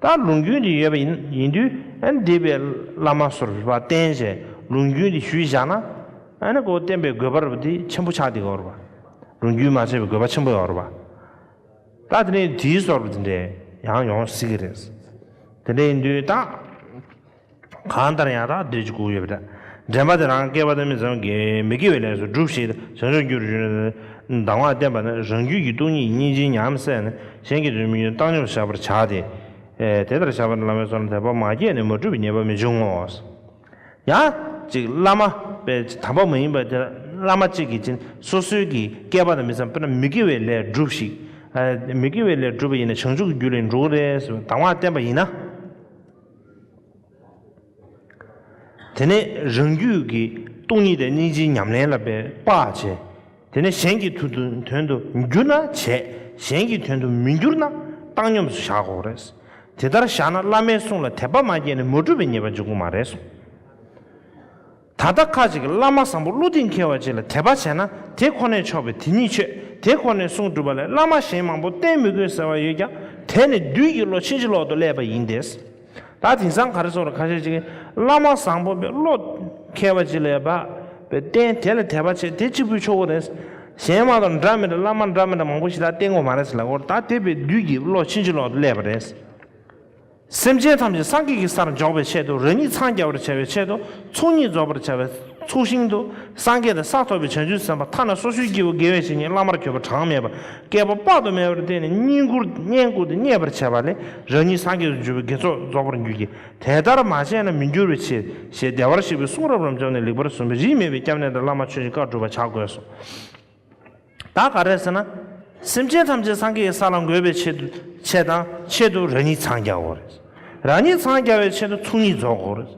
ལྟར་ལུང་རྒྱུན་དེ་ཡོད་པ་ཡིན་དུས་འདས་པའི་བླ་མ་ཟུར་བ་བསྟེན་བྱའི་ལུང་རྒྱུན་དེ་ཞུས་བཞག་ན། སྒོ་བསྟེན་པའི་དགོས་པ་དེ་ཆེན་པོ་ཆགས་ཏེ་འོར་བ། ལུང་རྒྱུན་མ་བྱས་པའི་དགོས་པ་ཆེན་པོ་འོར་བ། ད་དེ་ནས་དེའི་ཟོར་བ་དེ་འདྲས་ཡང་ཡོང་སྲིད་ཀྱི་རེད། དེ་འདྲས་ཡིན་དུས་ད། གང་ལྟར་ཡང་དག་འདོད་ཀྱི་སྐུ་ཡོད་པ་འདྲ། འདྲེན་པ་དེ་རང་སྐལ་བ་དོན་མེད་ཙམ་གྱིས་མི་དགེ་བའི་ལས་སུ་སྒྲུབས་ཤིག་ཅེས་མཆོད་འགྱུར་བཞུགས་ནས། གདམས་ངག་བསྟན་པ་ནི་རང་རྒྱུད་ཀྱི་སྟོང་ཉིད་ཀྱི་སྙིང་རྗེའི་ཉམས་བསལ་ནས་གཞན་གྱི་དོན་མི་ཉོན་བཏང་སྙོམས་བཞག་པར་བྱ་སྟེ། དེ་ལྟར་བྱ་བ་ནི་བླ་མའི་ཚོགས་ལ་དད་པ་མ་སྐྱེས་ནས་མ་བསྒྲུབས་པའི་ཉེས་པ་མི་འབྱུང་ངོ། ཡང་ཅིག་བླ་མ་པའི་དམ་པ་མ་ཡིན་པ་དེ་བླ་མ་གཅིག་གིས་ཅིན་སོ་སོའི་གི་སྐལ་པ་དང་མི་འཚམ་པས་ན་མི་དགེ་བའི་ལས་སྒྲུབས་ཤིག། མི་དགེ་བའི་ལས་སྒྲུབ་པ་ཡིན་ན་བྱང་ཆུབ་ཀྱི་རྒྱུ་ལས་འགྲོ་གི་རེད་ཟེར་བའི་གདམས་ངག་བསྟན་པ་ཡིན་ན། དེ་ནས་རང་རྒྱུད་ཀྱི་སྟོང་ཉིད་དང་སྙིང་རྗེའི་ཉམས་ལེན་ལ་འབད་པ་བྱས། དེ་ནས་གཞན་གྱི་དོན་དུ་འགྱུར་ན་བྱས་གཞན་གྱི་དོན་དུ་མི་འགྱུར་ན་བཏང་སྙོམས་སུ་བཞག་གོ་རེད། དེ་ལྟར་བཞག་ན་བླ་མའི་གསུང་ལ་དད་པ་མ་སྐྱེས་ནས་མ་གྲུབ་པའི་ཉེས་པ་འབྱུང་གི་མ་རེད་གསུངས། ད་ལྟ་ཁ་ཅིག་བླ་མ་བཟང་པོ་བློ་གཏིང་འཁེལ་བ་ཅིག་ལ་དད་པ་བྱས་ན་དེ་ཁོ་ནས་ཆོག་པས་དེ་ཉིད་ཆོས་དེ་ཁོ་ནས་གསུངས་གྲུབ་པ་ལས་བླ་མ་གཞན་མང་པོ་བསྟེན་མི་དགོས་ཟེར་བ་ཡོད་ཀྱང་དེ་ནི་བདུད་ཀྱི་བློ་ཕྱིན་ཅི་ལོག་ཏུ་བསླད་པ་ཡིན་ཏེ། ད་དེང་སང་ག་རེ་སོགས་ལ་ཁ་ཤས་ཅིག་གིས་བླ་མ་བཟང་པོ་བས་བློ་འཁེལ་བ་ཅིག་ལས་བབས་པས་བསྟེན་དེ་ལ་དད་པ་བྱས་དེ་གཅིག་པུས་ཆོག་གོ་རེད། གཞན་མང་དང་འདྲ་མི་འདྲ་བླ་མ་འདྲ་མི་འདྲ་མང་པོ་ཞིག་ད་བསྟེན་དགོས་མ་རེད་ཟེར་ལ་འོ་ད་དེ་བས་བདུད་ཀྱི་བློ་ཕྱིན་ཅི་ལོག་ཏུ་བསླད་པ་རེད། སེམས་ཅན་ཐམས་ཅད་སངས་རྒྱས་ཀྱི་སར་འཇོག་པའི་ཆེད་དུ་རང་ཉིད་འཚང་རྒྱ་བར་བྱ་བའི་ཆེད་དུ་ཚོགས་གཉིས་རྫོགས་པར་བྱ་བའི་ཚོགས་ཞིང་དུ་སངས་རྒྱས་དང་ས་ཐོབ་པའི་བྱང་ཆུབ་སེམས་དཔའ་ཐ་ན་སོ་སོའི་སྐྱེ་བོ་དགེ་བའི་བཤེས་གཉེན་བླ་མར་གྱུར་པ་གྲངས་མེད་པ་བསྐལ་པ་དཔག་ཏུ་མེད་པར་བསྟེན་ནས་བསྙེན་བཀུར་བསྙེན་བཀུར་དུ་མཉེས་པར་བྱས་པ་ལས་རང་ཉིད་སངས་རྒྱས་སུ་འགྱུར་བའི་དགེ་ཚོགས་རྫོགས་པར་འགྱུར་གྱི། དེ་ལྟར་མ་བྱས་ན་མི་འགྱུར་བའི་ཕྱིར་ཞེས་བདེ་བར་གཤེགས་པའི་གསུང་རབ་རབ་འབྱོར་ནས་ལེགས་པར་གསུངས་པའི་རིས་མེད་པའི་སྐྱབས་གནས་དང་བླ་མ་ཆོས་ཀྱི་བཀའ་བསྒྲུབ་པར་བྱ་དགོས་སོ། ད་ག་རེད་ཟེར་ན། སེམས་ཅན་ཐམས་ཅད་སངས་རྒྱས་ཀྱི་ས་ལ་འགོད་པའི་ཆེད་ཆེད་དང་ཆེད་དུ་རང་ཉིད་འཚང་རྒྱ་བོ་རེད། རང་ཉིད་འཚང་རྒྱ་བའི་ཆེད་དུ་ཚུགས་གཉིས་རྫོགས་གོ་རེད།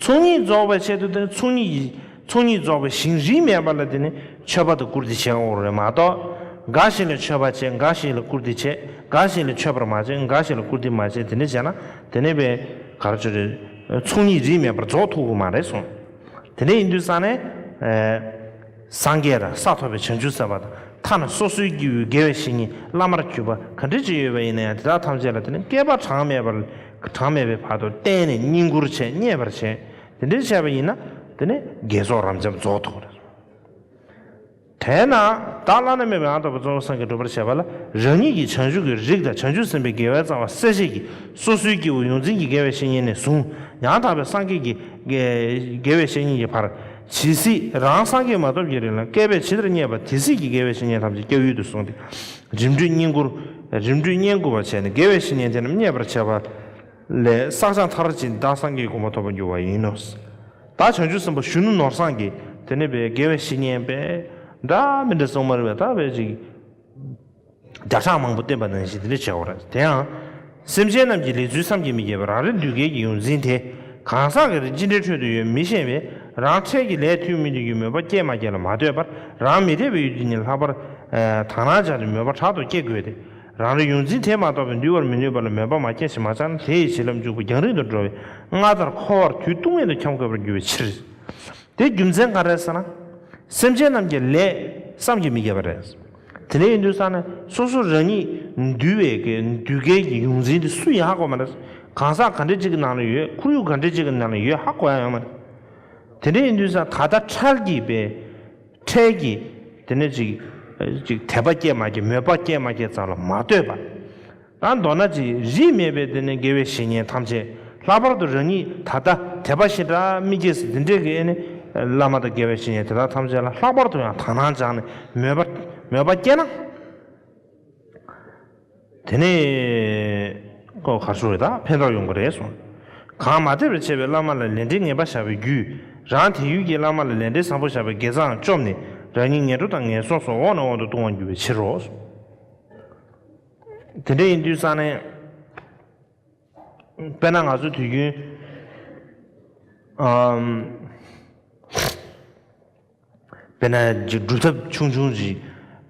ཚུགས་གཉིས་རྫོགས་པའི་ཆེད་དུ་དེ་ནི་ཚུགས་གཉིས་ཀྱི་ཚུགས་གཉིས་རྫོགས་པའི་ཞིང་རིས་མེད་པ་ལ་དེ་ནི་མཆོད་པ་དང་བཀུར་སྟི་བྱེད་འོང་བ་རེད་མ་གཏོགས། འགའ་ཞིག་ལ་མཆོད་པ་བྱེད་འགའ་ཞིག་ལ་བཀུར་སྟི་བྱེད་འགའ་ཞིག་ལ་མཆོད་པར་མ་བྱེད་འགའ་ཞིག་ལ་བཀུར་སྟི་མ་བྱེད་དེ་འདྲ་བྱས་ན་དེ་ནི་བའི་གར་ཆོད་རེད། ཚུགས་གཉིས་རིས་མེད་པར་རྫོགས་ཐུབ་གི་མ་རེད་གསུངས། དེ་འདྲ་ཡིན་དུས་ས་ནས། སངས་རྒྱས་དང་ས་ཐོབ་པའི་བྱང་ཆུབ་སེམས་དཔའ་དང་ཐ་ན་སོ་སོའི་སྐྱེ་བོའི་དགེ་བའི་བཤེས་གཉེན་བླ་མར་གྱུར་པ་ག་འདྲའི་ཅི་ཡོད་པ་ཡིན་ན་ཡང་དེ་དག་ཐམས་ཅད་ལ་དེ་ནི་བསྐལ་པ་གྲངས་མེད་པར་གྲངས་མེད་པའི་བར་དུ་བསྟེན་ནས་བསྙེན་བཀུར་བྱས་མཉེས་པར་བྱས། དེ་འདྲའི་བྱས་པ་ཡིན་ན་དེ་ནི་དགེ་ཚོགས་རབ་འབྱམས་རྫོགས་ཐོབ་པར་རིགས་སོ། དེས་ན་བདག་བླ་ན་མེད་པའི་ཨ་ཐོབ་པ་གཙོ་བོ་སངས་རྒྱས་སྒྲུབ་པར་བྱེད་པ་ལ་རང་ཉིད་ཀྱི་བྱང་ཆུབ་ཀྱི་རིགས་དང་བྱང་ཆུབ་སེམས་དཔའི་དགེ་བའི་རྩ་བ་གསལ་བྱེད་ཀྱི་སོ་སོའི་སྐྱེ་བོ་ཡོངས་འཛིན་གྱི་དགེ་བའི་བཤེས་གཉེན་ནས་བཟུང་ཡང་དག་པའི་སངས་རྒྱས་ཀྱི་དགེ་བའི་བཤེས་གཉེན་གྱི་བར། ཇི་སྲིད་རང་སངས་རྒྱས་མ་ཐོབ་ཀྱི་རིང་ལ་བསྐལ་པས་ཇི་ལྟར་བསྙད་པ་དེ་སྲིད་ཀྱི་དགེ་བའི་བཤེས་གཉེན་ཐམས་ཅད་སྐྱབས་ཡུལ་དུ་བཟུང་སྟེ། རིམ་གྲོས་བསྙེན་བཀུར། རིམ་གྲོས་བསྙེན་བཀུར་བ་བྱས་ནས་དགེ་བའི་བཤེས་གཉེན་དེ་རྣམས་མཉེས་པར་བྱས་པ། ལས་བསགས་སྦྱང་མཐར་ཕྱིན་བདག་སངས་རྒྱས་གོང་མ་ཐོབ་པར་འགྱུར་བ་ཡིན་ནོ། བདག་བྱང་ཆུབ་སེམས་དཔའ་གཞོན་ནུ་ནོར་བཟངས་ཀྱིས་དེ་ནས་པའི་དགེ་བའི་བཤེས་གཉེན་པས། འདྲ་མི་འདྲ་གསུངས་མར་བས་ད་བས་ཅིག། བརྒྱ་ཕྲག་མང་པོ་བསྟན་པ་ནང་བཞིན་དེ་འདྲ་བྱའོ། དེ་ཡང། སེམས་ཅན་རྣམས་ཀྱི་ལས་ཚུལ་བསམ་གྱིས་མི་ཁྱབ་པ་རང་རེ་འདུས་སྐལ་གྱི་ཡོངས་འཛིན་དེ། གང་ཟག་གི་རིགས་ཅི་འདྲའི་ཁྲོད་དུ་ཡོད་མི་ཤེས་པས་རང་འཕྲལ་གྱི་ལས་ཐུན་མིན་དུ་ཡོད་མོས་པ་སྐྱེས་མ་སྐྱེས་ལ་མ་ལྟོས་པར་རང་མི་འཐད་པའི་ཡུལ་དེ་ཉིད་ལྷག་པར། དག་སྣང་སྦྱར་ཏེ་མོས་པ་དྲག་ཏུ་སྐྱེ་དགོས་ཏེ། རང་རེ་ཡོངས་འཛིན་དེས་མ་རྟོགས་པས་འདུལ་བར་མི་ནུས་པ་ལ་མོས་པ་མ་སྐྱེས་ཤིང་མ་ཆགས་ན་དེ་ཡི་བྱིན་རླབས་འཇུག་པ་རྒྱང་རིང་དུ་འགྲོ་བས་སྔར་ལྟར་འཁོར་བར་དུས་ཏུང་མེད་དུ་འཁྱམས་དགོས་པར་འགྱུར་བའི་ཕྱིར། དེའི་རྒྱུ་མཚན་ག་རེ་ཟེར་ན། སེམས་ཅན་རྣམས་ཀྱི་ལས་བསམ་གྱིས་མི་ཁྱབ་པ་རེད། དེ་ནས་ཡིན་དུས་ས་ནི་སོ་སོ་རང་ཉིད་འདུལ་བའི་འདུལ་སྐལ་གྱི་ཡོངས་འཛིན་དེ་སུ་ཡིན་ཧ་གོ་བ་མ་རེད། གང་ཟག་ག་འདྲ་ཅིག་གི་ནང་ལ་ཡོད་ཁོར་ཡུག་ག་འདྲ་ཅིག་གི་ནང་ལ་ཡོད་ཧ་གོ་ཡ་ཡོད་མ་རེད། དེ་འདྲ་ཡིན་དུས་ས་ད་ལྟ་ཁྲལ་གྱིས་པས་ཁྲལ་གྱིས་དེ་ནས་ཅིག་དད་པ་སྐྱེས་མ་སྐྱེས་མོས་པ་སྐྱེས་མ་སྐྱེས་ཙམ་ལ་མ་ལྟོས་པར། ཡང་མདོར་ན་ཅི་རིགས་མེད་པའི་དེ་ནས་དགེ་བའི་བཤེས་གཉེན་ཐམས་ཅད་ལྷག་པར་དུ་རང་ཉིད་ད་ལྟ་དད་པ་ཞེ་དྲག་མི་སྐྱེས་སུ་འདི་འདྲའི་གནས་བླ་མ་དང་དགེ་བའི་བཤེས་གཉེན་དེ་དག་ཐམས་ཅད་ལ་ལྷག་པར་དུ་ཡང་དག་སྣང་སྦྱངས་ནས་མོས་པ་མོས་པ་བསྐྱེད་ན། དེ་ནས་ཀོ་གར་ཞུ་བའི་དག་ཕན་ཐོགས་ཡོང་གི་རེད་གསུངས། གང་མ་དད་པར་བྱས་པའི་བླ་མ་ལ་ལས་འབྲེལ་ངན་པ་བཞག་པའི་རྒྱུས་རང་དེ་ཡུལ་གྱི་བླ་མ་ལ་ལས་འབྲེལ་བཟང་པོ་བཞག་པའི་དགེ་རྩའང་བཅོམ་ནས་རང་ཉིད་ངན་འགྲོ་དང་ངན་སོང་སོགས་འོག་ནས་འོག་ཏུ་ལྟུང་བར་འགྱུར་བའི་ཕྱིར་རོ་གསུངས། དེ་འདྲ་ཡིན་དུས་ས་གནས། དཔེར་ན་ང་ཚོའི་དུས་རྒྱུན། དཔེར་ན་སྒྲུབ་ཐབས་ཆུང་ཆུང་ཞིག་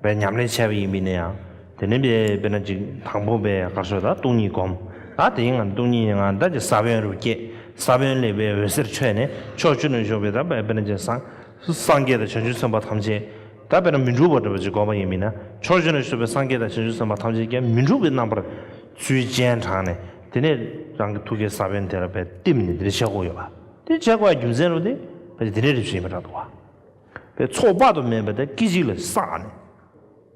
པའི་ཉམས་ལེན་བྱས་པ་ཡིན་པས་ན་ཡང། དེ་ནས་དཔེར་ན་ཅིག་དང་པོ་པའི་སྐར་ཚོགས་དང་སྟོང་ཉིད་བསྒོམ། ད་དེའི་ངང་སྟོང་ཉིད་ངང་བདག་གི་ས་བོན་རུ་སྐྱེས། ས་བོན་ལས་པའི་འོད་ཟེར་འཕྲོས་ནས་ཕྱོགས་བཅུ་ནས་ཞོགས་པའི་དཔེར་ན་ཅིག་སངས། སངས་རྒྱས་དང་བྱང་ཆུབ་སེམས་དཔའ་ཐམས་ཅད་ཀྱང་དཔེར་ན་མི་འཁྲུགས་པར་འདོད་པ་ཅིག་བསྒོམ་པ་ཡིན་མིན་ན་ཕྱོགས་བཞི་ནས་བསུས་པའི་སངས་རྒྱས་དང་བྱང་ཆུབ་སེམས་དཔའ་ཐམས་ཅད་ཀྱང་མི་འཁྲུགས་པའི་རྣམ་པར་ཚུལ་ཅན་དྲངས་ནས་དེ་ནས་རང་གི་ཐུགས་ཀའི་ས་བོན་དེ་ལ་བས་བསྟིམས་ནས་དེ་ནས་ཆས་སྒོ་ཡོད་པ་དེ་ཆས་སྒོ་ཡང་རྒྱུ་མཚན་རུང་སྟེ་བས་ཏེ་དེ་ནས་རེ་ཞིག་ཡིན་པར་གྲགས་འདུག་བ། བས་ཚོགས་དཔག་ཏུ་མེད་པ་དེ་སྐད་ཅིག་ལས་བསགས་ནས།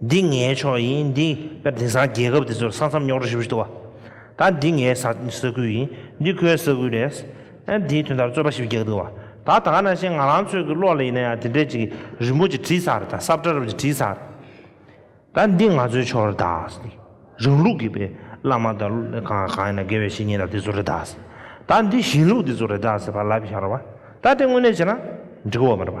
འདི་ངའི་ཕྱོགས་ཡིན་འདི་སྐབས་དེང་སང་རྒྱལ་ཁབ་དེ་ཚོར་ས་མཚམས་རྙོག་དྲ་ཧྲིལ་པོ་ཞིག་འདུག་བ། ད་འདི་ངའི་ས་ས་ཁུལ་ཡིན་འདི་ཁོའི་ས་ཁུལ་རེད། ཨ་འདིའི་དོན་དག་རྩོད་པ་ཞིག་རྒྱག་འདུག་བ། ད་ད་ང་ན་ཤེས་ང་རང་ཚོད་ཀྱི་བློ་ལ་ཡིན་ན་ཡང་དེ་འདྲས་ཅིག་རིན་པོ་ཆེ་བྲིས་ས་རེད་ད་སྲབ་བཀྲ་རབ་ཅིག་བྲིས་ས་རེད། ད་འདི་ང་ཚོའི་ཕྱོགས་རེད་ད། རང་ལུགས་ཀྱི་བེ་བླ་མ་ད་གང་གང་ཡིན་ན་དགེ་བའི་བཤེས་གཉེན་ད་དེ་ཚོ་རེད་ད། ད་འདི་གཞན་ལུགས་དེ་ཚོ་རེད་ད་ཟེར་བ་ལབ་ཤར་བ། ད་དེ་དངོས་གནས་བྱས་ན་འགྲིག་གོ་མ་རེད་པ།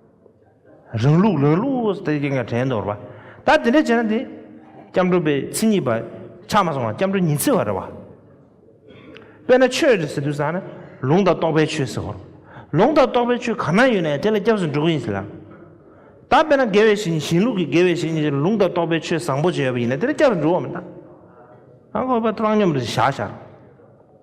རང་ལུགས་རང་ལུགས་ལྟར་གྱིས་ཀྱང་དྲན་འདོར་བ། ད་དེ་འདྲ་བྱས་ན་དེ། སྐྱབས་འགྲོ་པའི་ཚིག་གཉིས་པ། ཆགས་མ་སོང་བ་སྐྱབས་འགྲོ་ཉི་ཚེ་བ་རེད་བ། དཔེར་ན་ཆོས་རེད་ཟེར་དུས་ཟ་ན། ལུང་དང་རྟོགས་པའི་ཆོས་ཟེར་བ། ལུང་དང་རྟོགས་པའི་ཆོས་གང་ན་ཡོད་ན་དེ་ལ་སྐྱབས་སུ་འགྲོ་གི་ཡིན་ཟེར་ལ། ད་དཔེར་ན་དགེ་བའི་བཤེས་གཉེན་གཞན་ལུགས་ཀྱི་དགེ་བའི་བཤེས་གཉེན་ལུང་དང་རྟོགས་པའི་ཆོས་བཟང་པོ་བྱས་ཡོད་པ་ཡིན་ན་དེ་ལ་སྐྱབས་སུ་འགྲོ་བ་མི་གནང། ཨ་ཁོ་པ་བཏང་སྙོམས་རེད་བཞག་བཞག་རོགས།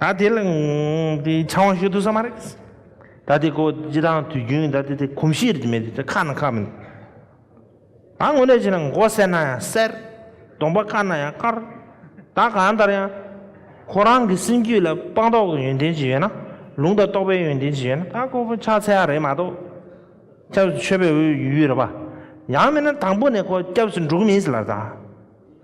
ད་དེ་ལ་དེ་ཆང་བ་ཞིག་འདུག་ས་མ་རེད། ད་དེ་ཁོ་ཇི་ལྟར་དུས་རྒྱུན་ད་དེ་དེ་གོམས་གཤིས་རེད་མེད་དེ་ཁ་ན་ཁ་མིན། ད་དངོས་གནས་བྱས་ན་མགོ་གསལ་ན་ཡང་གསལ། གདོང་པ་དཀར་ན་ཡང་དཀར། ད་གང་ལྟར་ཡང། ཁོ་རང་གི་སེམས་རྒྱུད་ལ་སྤངས་རྟོགས་ཀྱི་ཡོན་ཏན་ཅིག་ཡོད་ན། ལུང་དང་རྟོགས་པའི་ཡོན་ཏན་ཅིག་ཡོད་ན་ད་ཁོ་ཕྱག་འཚལ་ཡ་རེད་མ་གཏོགས། སྐྱབས་སུ་མཆོད་པའི་འོས་ཡུལ་ཡོད་རེད་པ། ཡང་མིན་ན་དང་པོ་ནས་ཁོ་སྐྱབས་སུ་འགྲོ་གི་མིན་ཟེར་ལ་ད།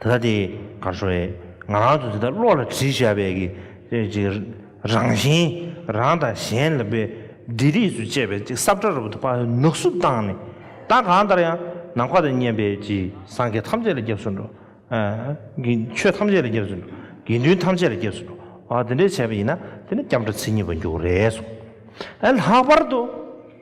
དེ་དག་དེ་གར་བཟོ་བའི་ང་རང་དུ་དེ་དག་བློ་ལ་དྲིལ་བཞག་པའི་གི་རང་བཞིན་རང་དང་གཞན་ལ་པའི་འདྲེ་རིས་སུ་བཅད་པའི་ཅིག་སྲབ་ཁྲ་རུ་དུ་པ་ནུག་བསུབ་བཏང་ནས་བདག་གང་ལྟར་ཡང་ནམ་མཁའ་དང་མཉམ་པའི་ཅི་སངས་རྒྱས་ཐམས་ཅད་ལ་སྐྱབས་སུ་འགྲོ། ཆོས་ཐམས་ཅད་ལ་སྐྱབས་སུ་འགྲོ། དགེ་འདུན་ཐམས་ཅད་ལ་སྐྱབས་སུ་འགྲོ། དེ་འདྲའི་བྱས་པ་ཡིན་ན་དེ་ནི་སྐྱབས་འགྲོ་ཚིག་གཉིས་པ་འཇུག་རེད་གསུངས། ལྷག་པར་དུ།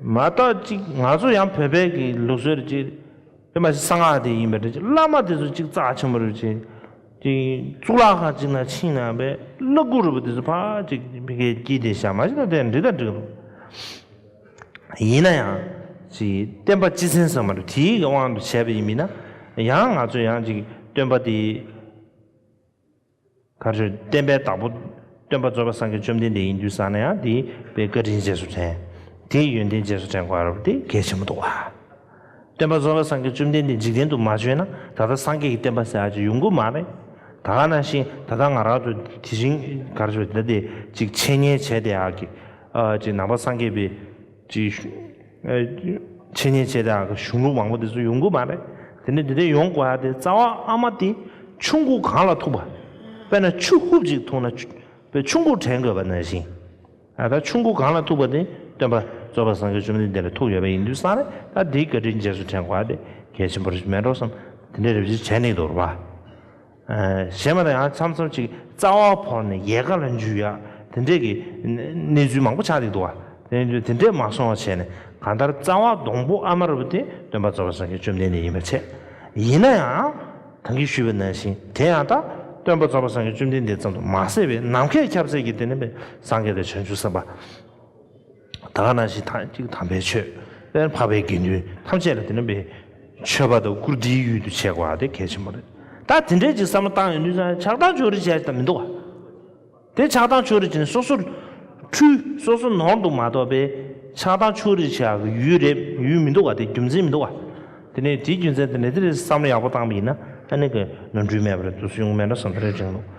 མ་བརྟག་ཅིག་ང་ཚོ་ཡང་བོད་པའི་གི་ལུགས་སྲོལ་རེད་ཅིག། དེ་མ་གསང་སྔགས་དེ་ཡིན་པ་རེད་ཅིག་བླ་མ་དེ་ཚོ་ཅིག་རྩ་ཆེན་པོ་རེད་ཅིག། ཅིག་གཙུག་ལག་ཁང་ཅིག་ན་ཕྱིན་ན་བས་བླ་གུ་རུ་བ་དེ་ཚོ་ཕག་ཅིག་བི་གའི་སྐྱིད་དེ་ཞག་མ་ཞིག་ན་དེ་འདྲི་དང་འདྲི་རུང། ཡིན་ན་ཡང་ཅིག་བསྟན་པ་སྤྱི་ཚན་ཟེར་མ་རེད་དེའི་གི་དབང་དུ་བྱས་པ་ཡིན་མིན་ན་ཡང་ང་ཚོ་ཡང་ཅིག་སྟོན་པ་དེ། མཁའ་འགྲོས་བསྟན་པའི་བདག་པོ། སྟོན་པ་རྩོད་པ་སངས་རྒྱས་བཅོམ་ལྡན་འདས་ཡིན་དུས་བཟང་ན་ཡང་དེའི་དཔེ་བཀའ་དྲིན་རྗེས་སུ་དྲན། དེའི་ཡོན་ཏན་རྗེས་སུ་དྲན་དགོས་རབས་དེ་གལ་ཆེན་པོ་འདུག་ལ། སྟོན་པ་རྩོད་པ་སངས་རྒྱས་བཅོམ་ལྡན་འདས་འཇིག་རྟེན་དུ་མ་བྱོན་ན་ད་ལྟ་སངས་རྒྱས་ཀྱི་བསྟན་པ་ཟེར་བ་ཅིག་ཡོང་གི་མ་རེད། ད་ག་ནང་བཞིན་ད་ལྟ་ང་རང་ཚོ་དེ་བཞིན་མཁའ་འགྲོས་འདི་འདི་ཅིག་འཆད་ཉན་བྱས་དེ་ཨ་ཀི། ཨ་ཅིག་ནང་པ་སངས་རྒྱས་པའི་ཅིག། འཆད་ཉན་བྱས་དང་གཞུང་ལུགས་མང་པོ་དེ་ཚོ་ཡོང་གི་མ་རེད་དེ་ནས་དེ་འདྲ་ཡོང་དགོས་ཡ་དེ་རྩ་བ་ཨ་མ་དེ་ཆུ་འགོ་གང་ལ་ཐུག་པ་དཔེར་ན་ཆུ་ཧུབ་ཅིག་ཐུག་ན་པའི་ཆུ་འགོ་དྲན་དགོས་པ་ན་བཞིན་ད་ལྟ་ཆུ་འགོ་གང་ལ་ཐུག་པ་དེ་སྟོན་པ་རྩོད་པ་སངས་རྒྱས་བཅོམ་ལྡན་འདས་ལ་ཐུག་ཡོད་པ་ཡིན་དུས་སང་རེད་ད་དེའི་བཀའ་དྲིན་རྗེས་སུ་དྲན་དགོས་ཡ་དེ་གལ་ཆེན་པོ་རེད་མེན་རོ་སམ་དེ་འདྲའི་རེ་བཞི་བྱས་ནི་དོར་བ། གཞན་མ་དང་ཡང་འཆམ་འཆམ་ཅིག་རྩ་བ་བོར་ནས་ཡལ་ག་ལ་འཇུས་ཡ་དེ་འདྲས་ཀྱི་གནས་ཚུལ་མང་པོ་ཆགས་ཀྱི་འདུག་བ། དེ་འདྲས་མ་སོང་བ་བྱས་ནས་གང་ལྟར་རྩ་བ་སྡོང་པོ་ཨ་མ་རུ་པ་དེ་སྟོན་པ་རྫོགས་པ་སངས་རྒྱས་བཅོམ་ལྡན་འདས་ཡིན་པར་འཆད། ཡིན་ན་ཡང་གང་གིས་ཞུས་པ་ནང་བཞིན་དེ་ཡང་དག་སྟོན་པ་རྫོགས་པ་སངས་རྒྱས་བཅོམ་ལྡན་འདས་ཙམ་དུ་མ་ཟད་པའི་ནམ་མཁའི་ཁྱབ་ཚད་ཀྱི་དེ་ནི་སངས་རྒྱས་དང་བྱང་ཆུབ་སེམས་དཔའ། དག་སྣང་ཞིང་ཐང་ཅིག་དམ་པའི་ཆོས། དབེན་འཕགས་པའི་དགེ་འདུན་ཐམས་ཅད་ལ་དེ་རྣམ་པའི་མཆོད་པ་དང་བཀུར་སྟིའི་ཡུལ་དུ་བྱེད་དགོས་པ་དེ་གལ་ཆེན་པོ་རེད། ད་དེ་འདྲའི་ཅིག་བསམ་བློ་བཏང་ཡོང་དུས་ན་ཆགས་སྡང་ཕྱོགས་རིས་བྱས་ཀྱི་མི་འདུག་བ། དེ་ཆགས་སྡང་ཕྱོགས་རིས་བྱས་ནས་སོ་སོར་འཁྲུལ། སོ་སོ་ནོར་འདུག་མ་གཏོགས་པའི་ཆགས་སྡང་ཕྱོགས་རིས་བྱ་གི་ཡུལ་རེད་ཡུལ་མི་འདུག་བ་དེ་རྒྱུ་མཚན་མི་འདུག་བ། དེ་ནས་དེའི་རྒྱུ་མཚན་དེ་ནས་དེ་འདྲའི་བསམ་བློ་ཡག་པོ་བཏང་པ་ཡིན་ན་ཨ་ནེ་གི་ནོར་འཁྲུལ་མེད་པ་རེད་དུས་སུ་ཡོང་མེད་ན་བསམ་བློའི་རིང་ལུགས།